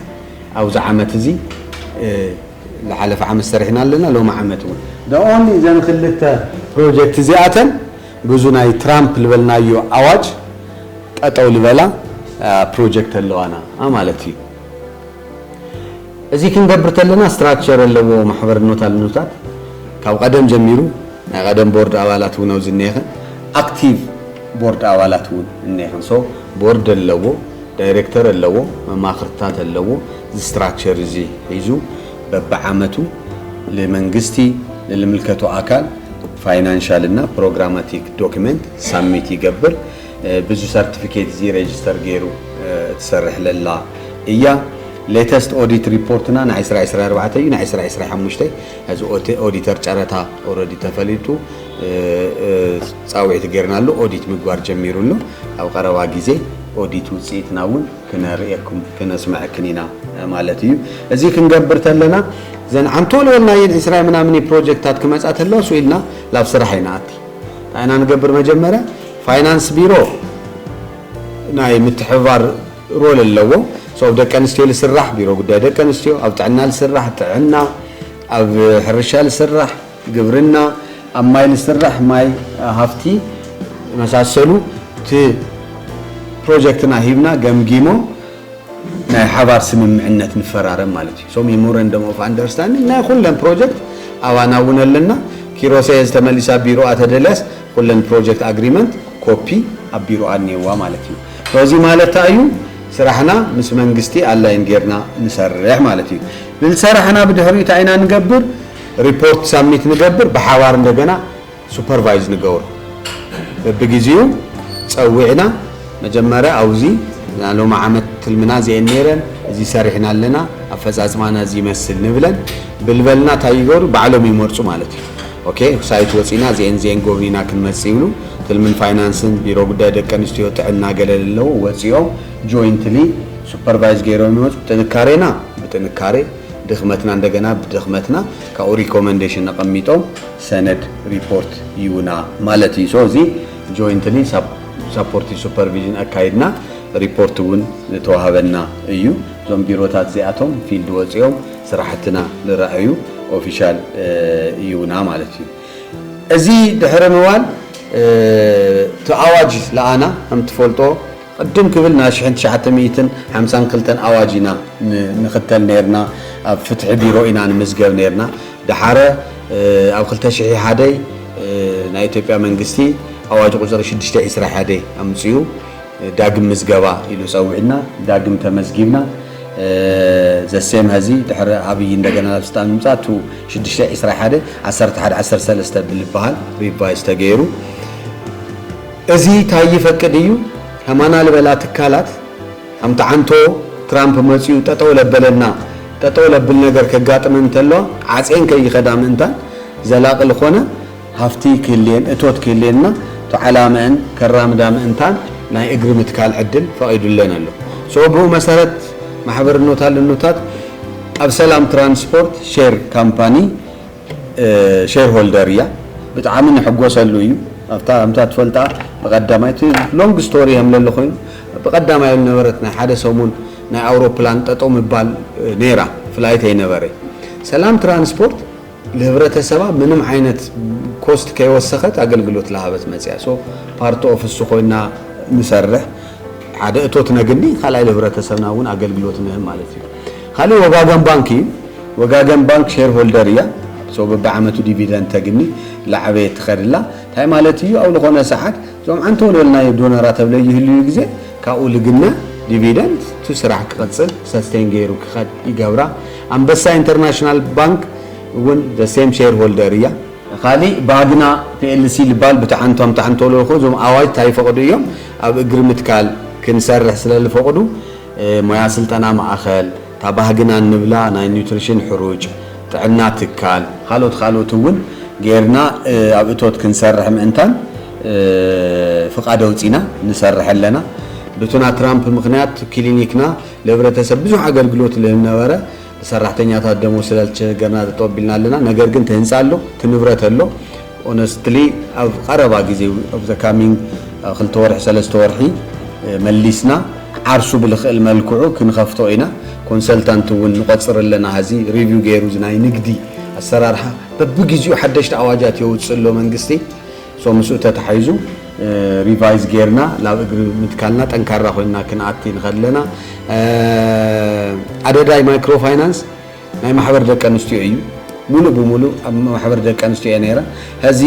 ኣብዚ ዓመት እዚ ልሓለፈ ዓመት ሰሪሕና ኣለና ሎሚ ዓመት እውን the only እዘን ኽልተ ፕሮጀክት እዚኣተን ብዙ ናይ ትራምፕ ልበልናዮ ኣዋጅ ጠጠው ልበላ ፕሮጀክት ኣለዋና ማለት እዩ። እዚ ክንገብር ተለና ስትራክቸር ኣለዎ ማሕበርኖት ኣልኖታት ካብ ቐደም ጀሚሩ ናይ ቐደም ቦርድ ኣባላት እውን ኣብዚ እነየኸን ኣክቲቭ ቦርድ ኣባላት እውን እነየኸን ሶ ቦርድ ኣለዎ ዳይሬክተር ኣለዎ መማኽርትታት ኣለዎ እዚ ስትራክቸር እዚ ሒዙ በብዓመቱ ልመንግስቲ ንልምልከቶ ኣካል ፋይናንሻል እና ፕሮግራማቲክ ዶክመንት ሳሚት ይገብር ብዙ ሰርትፊኬት እዚ ሬጅስተር ገይሩ ትሰርሕ ለላ እያ ሌተስት ኦዲት ሪፖርትና ናይ 2024 እዩ ናይ 2025 እዚ ኦዲተር ጨረታ ኦረዲ ተፈሊጡ ፃውዒት ገይርናሉ ኦዲት ምግባር ጀሚሩ ኣሎ ኣብ ቀረባ ግዜ ኦዲት ውፅኢትና እውን ክነርእየኩም ክነስመዐክን ኢና ማለት እዩ እዚ ክንገብር ተለና ዘን ዓንቶሎ ናየን ዕስራ ምናምን ፕሮጀክታት ክመፃ ተለዋ ስኢልና ናብ ስራሕ ኣይንኣቲ እንታይ ኢና ንገብር መጀመርያ ፋይናንስ ቢሮ ናይ ምትሕብባር ሮል ኣለዎ። ኣብ ደቂ ኣንስትዮ ዝስራሕ ቢሮ ጉዳይ ደቂ ኣንስትዮ፣ ኣብ ጥዕና ዝስራሕ ጥዕና፣ ኣብ ሕርሻ ዝስራሕ ግብርና፣ ኣብ ማይ ዝስራሕ ማይ ሃፍቲ መሳሰሉ እቲ ፕሮጀክትና ሂብና ገምጊሞም ናይ ሓባር ስምምዕነት ንፈራረም ማለት እዩ። ሚሞረንደም ኦፍ ኣንደርስታንዲንግ ናይ ኩለን ፕሮጀክት ኣባና እውን ኣለና። ኪሮሰይ ሕዚ ተመሊሳ ቢሮኣ ተደልያስ ኩለን ፕሮጀክት ኣግሪመንት ኮፒ ኣብ ቢሮ ኣልኔዋ ማለት እዩ ሶዚ ማለት ታይ እዩ ስራሕና ምስ መንግስቲ ኣላይን ጌርና ንሰርሕ ማለት እዩ ብልሰራሕና ብድሕሪኡ ታይ ኢና ንገብር ሪፖርት ሳብሚት ንገብር ብሓባር እንደገና ሱፐርቫይዝ ንገብሮ በብግዜኡ ፀዊዕና መጀመርያ ኣውዚ ናይ ሎሚ ዓመት ትልምና እዚኤን ኔረን እዚ ሰሪሕና ኣለና ኣፈፃፅማና እዚ ይመስል ንብለን ብልበልና ታይ ይገብሩ ባዕሎም ይመርፁ ማለት እዩ ኦኬ ሳይት ወጺና እዚኤን እዚኤን ጎብኒና ክንመጽእ ይብሉ ትልምን ፋይናንስን ቢሮ ጉዳይ ደቂ ኣንስትዮ ጥዕና ገለ ለለዉ ወጺኦም ጆይንትሊ ሱፐርቫይዝ ገይሮም ይመጹ ጥንካሬና ብጥንካሬ ድኽመትና እንደገና ብድኽመትና ካብኡ ሪኮመንዴሽን ኣቐሚጦም ሰነድ ሪፖርት ይቡና ማለት እዩ ሶ እዚ ጆይንትሊ ሳፖርቲቭ ሱፐርቪዥን ኣካይድና ሪፖርት እውን ተዋህበና እዩ እዞም ቢሮታት እዚኣቶም ፊልድ ወፂኦም ስራሕትና ልረኣዩ ኦፊሻል እዩና ማለት እዩ። እዚ ድሕሪ ምባል እቲ ኣዋጅ ለኣና ከምትፈልጦ ቅድም ክብል ናይ ሽሕን ትሽዓተ ሚእትን ሓምሳን ክልተን ኣዋጅ ኢና ንኽተል ነርና ኣብ ፍትሒ ቢሮ ኢና ንምዝገብ ነርና ደሓረ ኣብ ክልተ ሽሒ ሓደ ናይ ኢትዮጵያ መንግስቲ ኣዋጅ ቁፅሪ ሽዱሽተ ዒስራ ሓደ ኣምፅኡ ዳግም ምዝገባ ኢሉ ጸዊዕና ዳግም ተመዝጊብና ዘሴም ሀዚ ድሕሪ ኣብይ እንደገና ናብ ስልጣን ምምፃእ ቱ ሽዱሽተ ዕስራ ሓደ ዓሰርተ ሓደ ዓሰርተ ሰለስተ ብልበሃል ሪቫይዝ ተገይሩ እዚ እንታይ ይፈቅድ እዩ ከማና ልበላ ትካላት ከምቲ ዓንቶ ትራምፕ መፅኡ ጠጠው ለበለና ጠጠው ለብል ነገር ከጋጥመን እንተለዋ ዓፅየን ከይኸዳ ምእንታን ዘላቂ ዝኾነ ሃፍቲ ክህልየን እቶት ክህልየን እና ተዓላመእን ከራምዳ ምእንታን ናይ እግሪ ምትካል ዕድል ፈቂዱለን ኣሎ። ሶ ብኡ መሰረት ማሕበርኖታል እኖታት ኣብ ሰላም ትራንስፖርት ሼር ካምፓኒ ሼር ሆልደር እያ። ብጣዕሚ ንሕጎሰሉ እዩ። ኣብታ ከምታ ትፈልጣ ብቀዳማይ እቲ ሎንግ ስቶሪ ከምለለ ኮይኑ ብቀዳማይ ዝነበረት ናይ ሓደ ሰሙን ናይ ኣውሮፕላን ጠጠው ምባል ነይራ ፍላይት ኣይነበረ ሰላም ትራንስፖርት ንህብረተሰባ ምንም ዓይነት ኮስት ከይወሰኸት ኣገልግሎት ላሃበት መፅያ so ፓርት ኦፍ እሱ ኮይና ንሰርሕ ሓደ እቶት ነግኒ ካልኣይ ልህብረተሰብና እውን ኣገልግሎት ንህብ ማለት እዩ ካሊእ ወጋገን ባንክ እዩ ወጋገን ባንክ ሼር ሆልደር እያ so በብዓመቱ ዲቪደንድ ተግኒ ላዓበየ ትኸድላ እንታይ ማለት እዩ ኣብ ዝኾነ ሰዓት እዞም ዓንተ ወልወልናዮ ዶነራ ተብለ ይህልዩ ግዜ ካብኡ ልግነ ዲቪደንድ እቲ ስራሕ ክቕፅል ሰስቴን ገይሩ ክኸድ ይገብራ ኣንበሳ ኢንተርናሽናል ባንክ እውን the same shareholder እያ። ካሊእ ባግና plc ልባል ብታዓንቷም ታዓንቶሎ እኮ እዞም ኣዋጅ ታይ ይፈቅዱ እዮም ኣብ እግሪ ምትካል ክንሰርሕ ስለ ልፈቅዱ ሞያ ስልጠና ማእኸል እታ ባህግና እንብላ ናይ ኒውትሪሽን ሕሩጭ ጥዕና ትካል ካልኦት ካልኦት እውን ገይርና ኣብ እቶት ክንሰርሕ ምእንታን ፍቃድ ኣውፂና ንሰርሕ ኣለና ብቱና ትራምፕ ምክንያት ክሊኒክና ለህብረተሰብ ብዙሕ ኣገልግሎት ለህነበረ ለሰራሕተኛታት ደሞዝ ስለልቸገርና ጠጠው ኣቢልና ኣለና ነገር ግን ተህንፃ ኣሎ ትንብረት ኣሎ ኦነስትሊ ኣብ ቐረባ ግዜ ኣብ ዘ ካሚንግ ክልተ ወርሒ ሰለስተ ወርሒ መሊስና ዓርሱ ብልኽእል መልክዑ ክንኸፍቶ ኢና ኮንሰልታንት እውን ንቆፅር ኣለና ሀዚ ሪቪው ገይሩ ዝናይ ንግዲ ኣሰራርሓ በብግዜኡ ሓደሽቲ ኣዋጃት የውፅእ ኣሎ መንግስቲ so ምስኡ ተታሒዙ ሪቫይዝ ጌርና ናብ እግሪ ምትካልና ጠንካራ ኮይንና ክንኣቲ ንኸእል ኣለና። ኣደዳይ ማይክሮ ፋይናንስ ናይ ማሕበር ደቂ ኣንስትዮ እዩ። ሙሉእ ብሙሉእ ኣብ ማሕበር ደቂ ኣንስትዮ እየ ነይረ። ሀዚ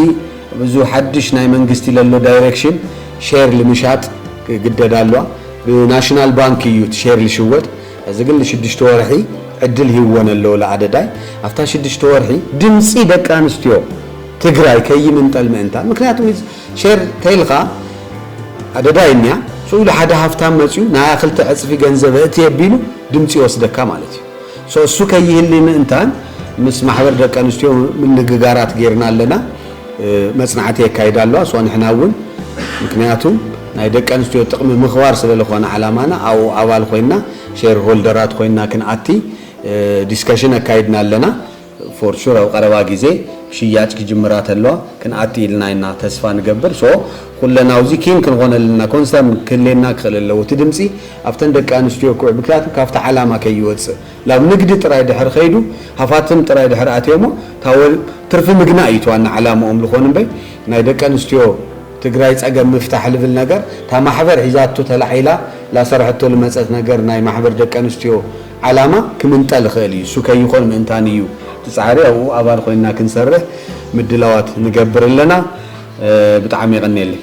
ብዙ ሓድሽ ናይ መንግስቲ ለሎ ዳይሬክሽን ሼር ልምሻጥ ክግደድ ኣለዋ። ብናሽናል ባንክ እዩ እቲ ሼር ልሽወጥ። ሀዚ ግን ልሽዱሽተ ወርሒ ዕድል ሂወን ኣለዎ ልኣደዳይ። ኣብታ ሽዱሽተ ወርሒ ድምፂ ደቂ ኣንስትዮ ትግራይ ከይምንጠል ምእንታን ምክንያቱ ሼር ተይልካ ኣደዳ እኒያ ሱኡ ኢሉ ሓደ ሃፍታም መፅኡ ናያ ክልተ ዕፅፊ ገንዘብ እእቲ ኣቢሉ ድምፂ ይወስደካ ማለት እዩ ሶ እሱ ከይህሊ ምእንታን ምስ ማሕበር ደቂ ኣንስትዮ ምንግጋራት ጌርና ኣለና መፅናዕቲ የካይዳ ኣለዋ ሶ ንሕና እውን ምክንያቱ ናይ ደቂ ኣንስትዮ ጥቕሚ ምኽባር ስለልኾነ ዓላማና ኣብኡ ኣባል ኮይና ሼር ሆልደራት ኮይና ክንኣቲ ዲስከሽን ኣካይድና ኣለና ፎር ሹር ኣብ ቀረባ ግዜ ሽያጭ ክጅምራ ተለዋ ክንኣቲ ኢልና ኢና ተስፋ ንገብር ሶ ኩለን ኣውዚ ኪን ክንኾነልና ኮንሰርን ክህሌና ክኽእል ኣለዎ እቲ ድምጺ ኣብተን ደቂ ኣንስትዮ ክውዕ ምክንያቱ ካብቲ ዓላማ ከይወጽእ ላብ ንግዲ ጥራይ ድሕር ኸይዱ ሃፋትም ጥራይ ድሕር ኣትዮሞ ታወ ትርፊ ምግናይ እዩ እቲ ዋና ዓላምኦም ልኾን እምበይ ናይ ደቂ ኣንስትዮ ትግራይ ጸገም ምፍታሕ ልብል ነገር ታማሕበር ሒዛቶ ተላዒላ ላሰርሐቶ ልመጸት ነገር ናይ ማሕበር ደቂ ኣንስትዮ ዓላማ ክምንጠል ይኽእል እዩ። እሱ ከይኾን ምእንታን እዩ እቲ ፃዕሪ። ኣብኡ ኣባል ኾይንና ክንሰርሕ ምድላዋት ንገብር ኣለና። ብጣዕሚ የቐንየለይ።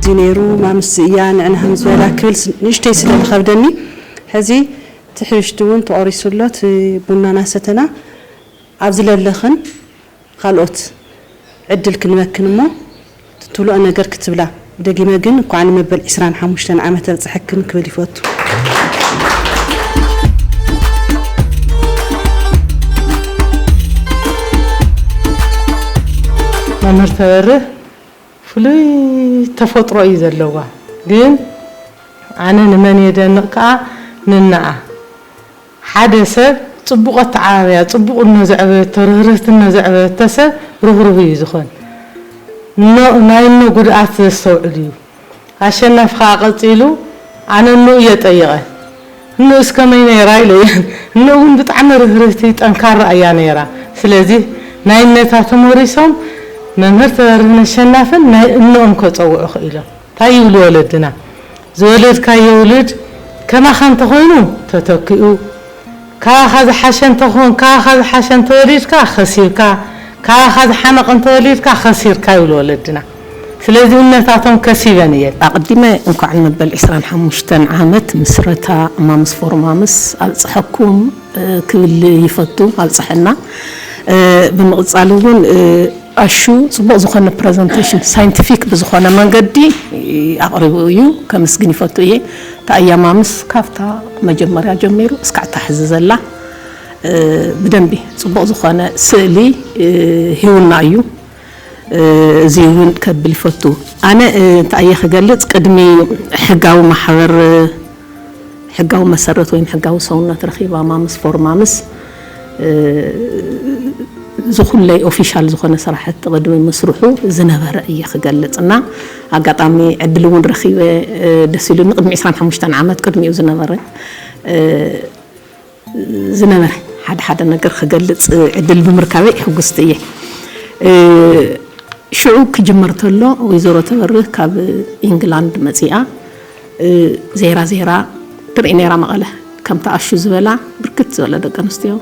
እዚ ነይሩ ማምስ እያ ንዕና ከም ዝበላ ክብል ንእሽተይ ስለ ዝኸብደኒ ሕዚ እቲ ሕብሽቲ እውን ተቖሪሱ ኣሎ እቲ ቡናና ሰተና ኣብዚ ለለኽን ኻልኦት ዕድል ክንበክን እሞ ትትብልኦ ነገር ክትብላ ደጊመ ግን እኳዕ ንመበል ዕስራን ሓሙሽተን ዓመት ኣብፀሐክን ክብል ይፈቱ። መምህር ተበርህ ፍሉይ ተፈጥሮ እዩ ዘለዋ ግን ኣነ ንመን የደንቕ ከኣ ንነኣ ሓደ ሰብ ጽቡቕ ኣተዓባብያ፣ ጽቡቕ እኖ ዘዕበየቶ፣ ርህርህቲ እኖ ዘዕበየቶ ሰብ ርህሩህ እዩ ዝኾን። እኖ ናይ እኖ ጉድኣት ዘስተውዕል እዩ። ኣሸናፊ ከኣ ቀጺሉ ኣነ እኖኡ እየ ጠይቐ። እኖኡስ ከመይ ነይራ ኢለ እየ። እኖኡ እውን ብጣዕሚ ርህርህቲ፣ ጠንካራ እያ ነይራ። ስለዚ ናይ እነታ ተሞሪሶም መምህር ተበርህን ኣሸናፍን ናይ እኖኦም ከጸውዑ ክኢሎም። ታይ ይብሉ ወለድና ዝወለድካዮ ውሉድ ከማኻ እንተኾይኑ ተተኪኡ ካባኻ ዝሓሸ እንተኾን ካባኻ ዝሓሸ እንተወሊድካ ከሲርካ ካባኻ ዝሓመቐ እንተወሊድካ ከሲርካ ይብሉ ወለድና ስለዚ እምነታቶም ከሲበን እየን። ኣቅዲመ እንኳዕ ንመበል ዕስራን ሓሙሽተን ዓመት ምስረታ ማምስ ፎር ማምስ ኣብፀሐኩም። ክብል ይፈቱ ኣብፀሐና ብምቅፃል እውን ኣሹ ፅቡቅ ዝኮነ ፕረዘንተሽን ሳይንቲፊክ ብዝኮነ መንገዲ ኣቅሪቡ እዩ ከምስግን ይፈቱ እየ ተኣያማምስ ካብታ መጀመርያ ጀሚሩ እስካዕ እታ ሕዚ ዘላ ብደንቢ ፅቡቅ ዝኮነ ስእሊ ሂቡና እዩ እዙይ እውን ከብል ይፈቱ ኣነ እንታይ እየ ክገልፅ ቅድሚ ሕጋዊ ማሕበር ሕጋዊ መሰረት ወይም ሕጋዊ ሰውነት ረኺባ ማምስ ፎር ማምስ ዝኹለይ ኦፊሻል ዝኾነ ስራሕቲ ቅድሚ ምስርሑ ዝነበረ እየ ክገልፅ እና ኣጋጣሚ ዕድል እውን ረኺበ ደስ ኢሉኒ ቅድሚ 25 ዓመት ቅድሚኡ ዝነበረ ዝነበረ ሓደ ሓደ ነገር ክገልጽ ዕድል ብምርካበይ ሕጉስቲ እየ። ሽዑ ክጅመር ተሎ ወይዘሮ ተበርህ ካብ ኢንግላንድ መጺኣ ዜራ ዜራ ትርኢ ነይራ መቐለ ከምቲ ኣሹ ዝበላ ብርክት ዝበለ ደቂ ኣንስትዮ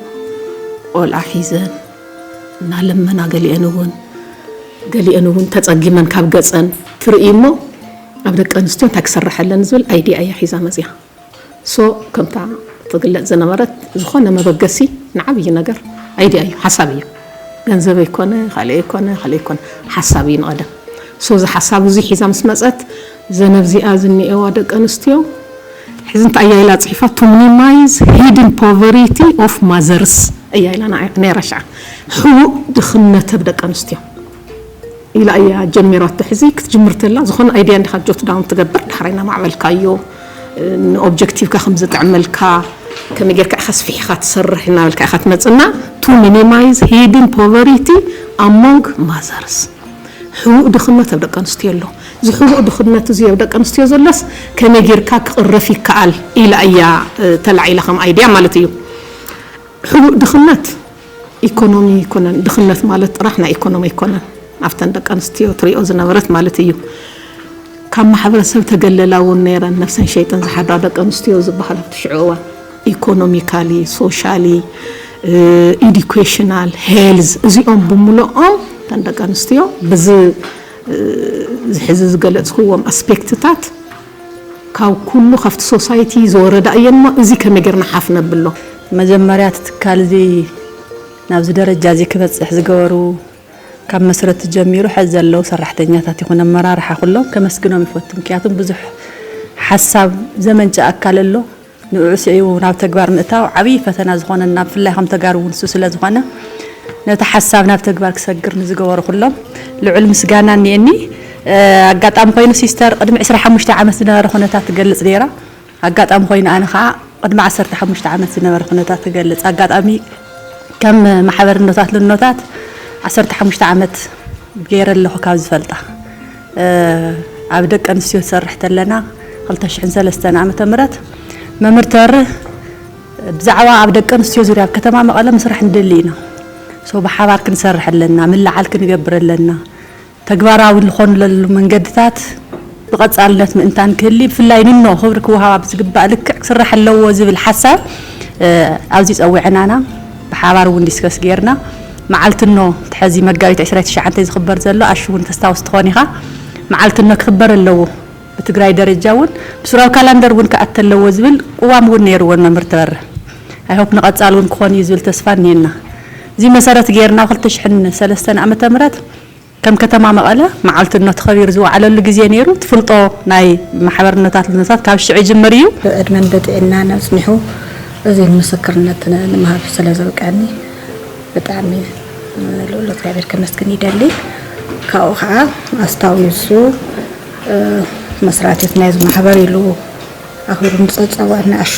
ቆልዓ ሒዘን እናለመና ገሊአን እውን ገሊአን እውን ተጸጊመን ካብ ገጸን ትርኢ እሞ ኣብ ደቂ ኣንስትዮ እንታይ ክስረሐለን ዝብል ኣይዲያ እያ ሒዛ መጺኣ። so ከምታ ትግለጽ ዝነበረት ዝኾነ መበገሲ ንዓብይ ነገር idea እዩ ሓሳብ እዩ ገንዘብ ኣይኮነ ካልእ ኣይኮነ ካልእ ኣይኮነ ሓሳብ እዩ ንቐደም so እዚ ሓሳብ እዚ ሒዛ ምስ መጸት ዘነብዚኣ ዝኒኤዋ ደቂ ኣንስትዮ ሕዚ እንታይ እያ ኢላ ጽሒፋ to minimize hidden poverty of mothers እያ ኢላ ነይራ ሽዓ ሕቡእ ድኽነት ኣብ ደቂ ኣንስትዮ ኢላ እያ ጀሚራቶ ሕዚ ክትጅምር ተላ ዝኮነ ኣይድያ እንዲካ ጆት ዳውን ትገብር ዳሕራይ ናማዕበልካዮ ን ኦብጀክቲቭካ ከም ዝጥዕመልካ ከመይ ጌርካ ኢካ ኣስፊሕካ ትሰርሕ ናበልካ ኢካ ትመጽእ እና ቱ ሚኒማይዝ ሂድን ፖቨሪቲ ኣሞንግ ማዘርስ ሕቡእ ድክነት ኣብ ደቂ ኣንስትዮ ኣሎ እዚ ሕቡእ ድክነት እዚ ኣብ ደቂ ኣንስትዮ ዘሎስ ከመይ ጌርካ ክቅረፍ ይከኣል ኢላ እያ ተላዒላ ከም ኣይድያ ማለት እዩ ሕቡእ ድክነት ኢኮኖሚ ኣይኮነን ድኽነት ማለት ጥራሕ ናይ ኢኮኖሚ ኣይኮነን ኣብተን ደቂ ኣንስትዮ ትሪኦ ዝነበረት ማለት እዩ ካብ ማሕበረሰብ ተገለላ እውን ነይረን ነብሰን ሸይጠን ዝሓድራ ደቂ ኣንስትዮ ዝበሃል ኣብቲ ሽዑ እዋን ኢኮኖሚካሊ ሶሻሊ ኢዲኬሽናል ሄልዝ እዚኦም ብምልኦም እተን ደቂ ኣንስትዮ ብዚ ዝሕዚ ዝገለፅክዎም ኣስፔክትታት ካብ ኩሉ ካብቲ ሶሳይቲ ዝወረዳ እየን እሞ እዚ ከመይ ጌርና ሓፍ ነብሎ? መጀመርያ እቲ ትካል እዚ ናብዚ ደረጃ እዚ ክበፅሕ ዝገበሩ ካብ መስረቲ ጀሚሩ ሐዚ ዘለዉ ሰራሕተኛታት ይኹን ኣመራርሓ ኩሎም ከመስግኖም ይፈቱ ምክንያቱ ብዙሕ ሓሳብ ዘመንጨ ኣካል ኣሎ ንዑዑ ስዒቡ ናብ ተግባር ምእታው ዓብይ ፈተና ዝኾነና ብፍላይ ከም ተጋሩ እውን እሱ ስለ ዝኾነ ነቲ ሓሳብ ናብ ተግባር ክሰግር ንዝገበሩ ኩሎም ልዑል ምስጋና እኒኤኒ። ኣጋጣሚ ኮይኑ ሲስተር ቅድሚ ዕስራ ሓሙሽተ ዓመት ዝነበረ ኩነታት ትገልፅ ነይራ። ኣጋጣሚ ኮይኑ ኣነ ከዓ ቅድሚ ዓሰርተ ሓሙሽተ ዓመት ዝነበረ ኩነታት ክገልፅ ኣጋጣሚ ከም ማሕበር እኖታት ልኖታት ዓሰርተ ሓሙሽተ ዓመት ገይረ ኣለኹ ካብ ዝፈልጣ ኣብ ደቂ ኣንስትዮ ትሰርሕ ተለና ክልተ ሽሕን ሰለስተን ዓመተ ምህረት መምህር ተሪ ብዛዕባ ኣብ ደቂ ኣንስትዮ ዙርያ ኣብ ከተማ መቐለ ምስራሕ ንደሊ ኢና ሶ ብሓባር ክንሰርሕ ኣለና ምልዓል ክንገብር ኣለና ተግባራዊ ዝኾንለሉ መንገድታት ብቐጻልነት ምእንታን ክህሊ ብፍላይ ንኖ ክብሪ ክወሃባ ብዝግባእ ልክዕ ክስራሕ ኣለዎ ዝብል ሓሳብ ኣብዚ ጸዊዐናና ብሓባር እውን ዲስከስ ገይርና መዓልትኖ እቲ ሐዚ መጋቢት ዕስራይ ትሽዓተ ዝኽበር ዘሎ ኣሹ እውን ተስታውስ ትኾን ኢኻ መዓልትኖ ክኽበር ኣለዎ ብትግራይ ደረጃ እውን ብሱራዊ ካላንደር እውን ክኣቲ ኣለዎ ዝብል ቁዋም እውን ነይርዎን መምህር ተበረ ኣይ ሆፕ ንቐፃሊ እውን ክኾን እዩ ዝብል ተስፋ እኒሀና እዙይ መሰረት ገይርና ኣብ ክልተ ሽሕን ሰለስተን ዓመተ ምህረት ከም ከተማ መቐለ መዓልቲ እኖ ተኸቢሩ ዝወዓለሉ ግዜ ነይሩ። ትፍልጦ ናይ ማሕበር እኖታት ልዝነታት ካብ ሽዑ ይጅምር እዩ። ብዕድመን ብጥዒናን ኣጽኒሑ እዚ ንምስክርነት ንምሃብ ስለ ዘብቅዐኒ ብጣዕሚ ልኡል እግዚኣብሔር ከመስግን ይደሊ። ካብኡ ኸዓ ኣስታዊሱ መስራቲት ናይዚ ማሕበር ኢሉ ኣኽቢሩ ምስ ጸውዐኒ ኣሹ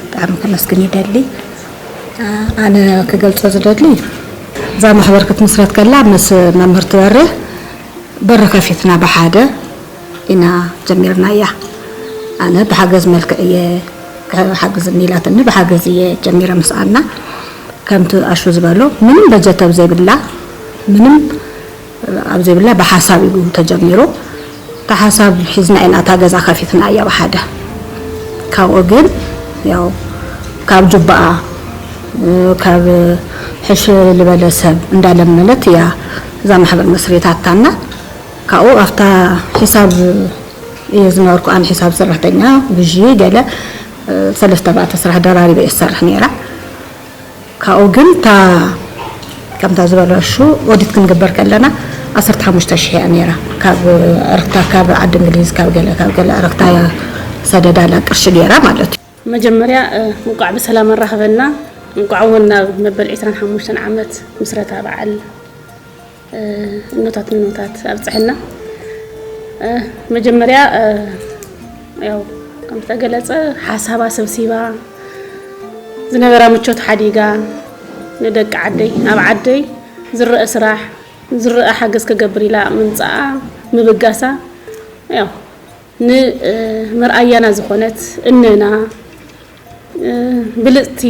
ብጣዕሚ ከመስግን ይደሊ። ኣነ ክገልጾ ዝደሊ እዛ ማሕበር ክትምስረት ከላ ምስ መምህር ትበሪ በሪ ከፊትና ብሓደ ኢና ጀሚርናያ። ኣነ ብሓገዝ መልክዕ እየ ክሓግዝኒ ኢላትኒ ብሓገዝ እየ ጀሚረ ምስ ኣና ከምቲ ኣሹ ዝበሎ ምንም በጀት ኣብ ዘይብላ ምንም ኣብ ዘይብላ ብሓሳብ እዩ ተጀሚሩ እታ ሓሳብ ሒዝና ኢና እታ ገዛ ከፊትናያ ብሓደ ካብኡ ግን ያው ካብ ጁባኣ ካብ ሕሽ ልበለ ሰብ እንዳለመነት እያ እዛ ማሕበር መስሪታታና ካብኡ ኣብታ ሒሳብ እየ ዝነበርኩ ኣነ ሒሳብ ሰራሕተኛ ግዢ ገለ ሰለስተ ባእተ ስራሕ ደራሪበ እየ ዝሰርሕ ነይረ ካብኡ ግን እታ ከምታ ዝበለሹ ኦዲት ክንግበር ከለና ዓሰርተ ሓሙሽተ ሽሕ እያ ነይራ ካብ ዕርክታ ካብ ዓዲ እንግሊዝ ካብ ገለ ካብ ገለ ዕርክታ እያ ሰደዳላ ቅርሺ ገይራ ማለት እዩ። መጀመርያ እንቋዕ ብሰላም ኣራኽበና እንቋዕ እውን ናብ መበል ዕስራን ሓሙሽተን ዓመት ምስረታ በዓል። እኖታት እኖታት ኣብፅሐና መጀመርያ ያው ከምዝተገለፀ ሓሳባ ሰብሲባ ዝነበራ ምቾት ሓዲጋ ንደቂ ዓደይ ኣብ ዓደይ ዝረአ ስራሕ ዝረአ ሓገዝ ከገብር ኢላ ምምፃኣ ምብጋሳ ያው ንመርኣያና ዝኾነት እነና ብልጽቲ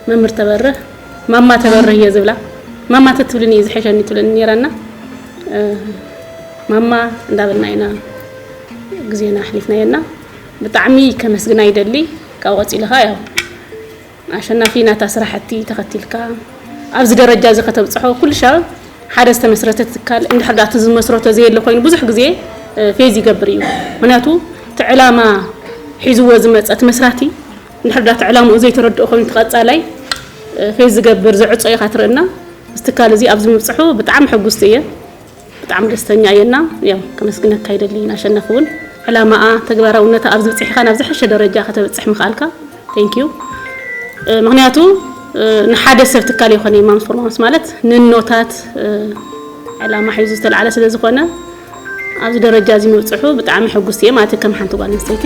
መምህር ተበርህ ማማ ተበርህ እየ ዝብላ ማማ ትትብልን እዩ ዝሕሸኒ ትብለኒ ነይራና ማማ እንዳበልና ኢና ግዜና ኣሕሊፍናዮና ብጣዕሚ ከመስግና ይደሊ ካብ ቀፂሉ ከዓ ያው ኣሸናፊ ናታ ስራሕቲ ተኸቲልካ ኣብዚ ደረጃ እዚ ከተብፅሖ ኩልሻብ ሓደ ዝተመስረተ ትካል እንድሕር ዳኣ እቲ ዝመስረቶ ዘየለ ኮይኑ ብዙሕ ግዜ ፌዝ ይገብር እዩ ምክንያቱ እቲ ዕላማ ሒዝዎ ዝመፀ እቲ መስራቲ እንድሕር ዳኣ እቲ ዕላምኡ ዘይተረድኦ ኮይኑ ተቐፃላይ ፌዝ ዝገብር ዘዕፆ ኢኻ ትርእና እዚ ትካል እዚ ኣብዚ ምብፅሑ ብጣዕሚ ሕጉስቲ እየ ብጣዕሚ ደስተኛ እየ እና ያው ከመስግነካ ይደሊ ንኣሸናፊ እውን ዕላማኣ ተግባራውነታ ኣብዚ ብፅሒካ ናብ ዝሐሸ ደረጃ ከተብፅሕ ምክኣልካ thank you ምክንያቱ ንሓደ ሰብ ትካል የኮነይ ማምስ ፎር ማምስ ማለት ንኖታት ዕላማ ሒዙ ዝተላዕለ ስለ ዝኮነ ኣብዚ ደረጃ እዚ ምብፅሑ ብጣዕሚ ሕጉስቲ እየ ማለት ከም ሓንቲ ጓል ኣንስተይቲ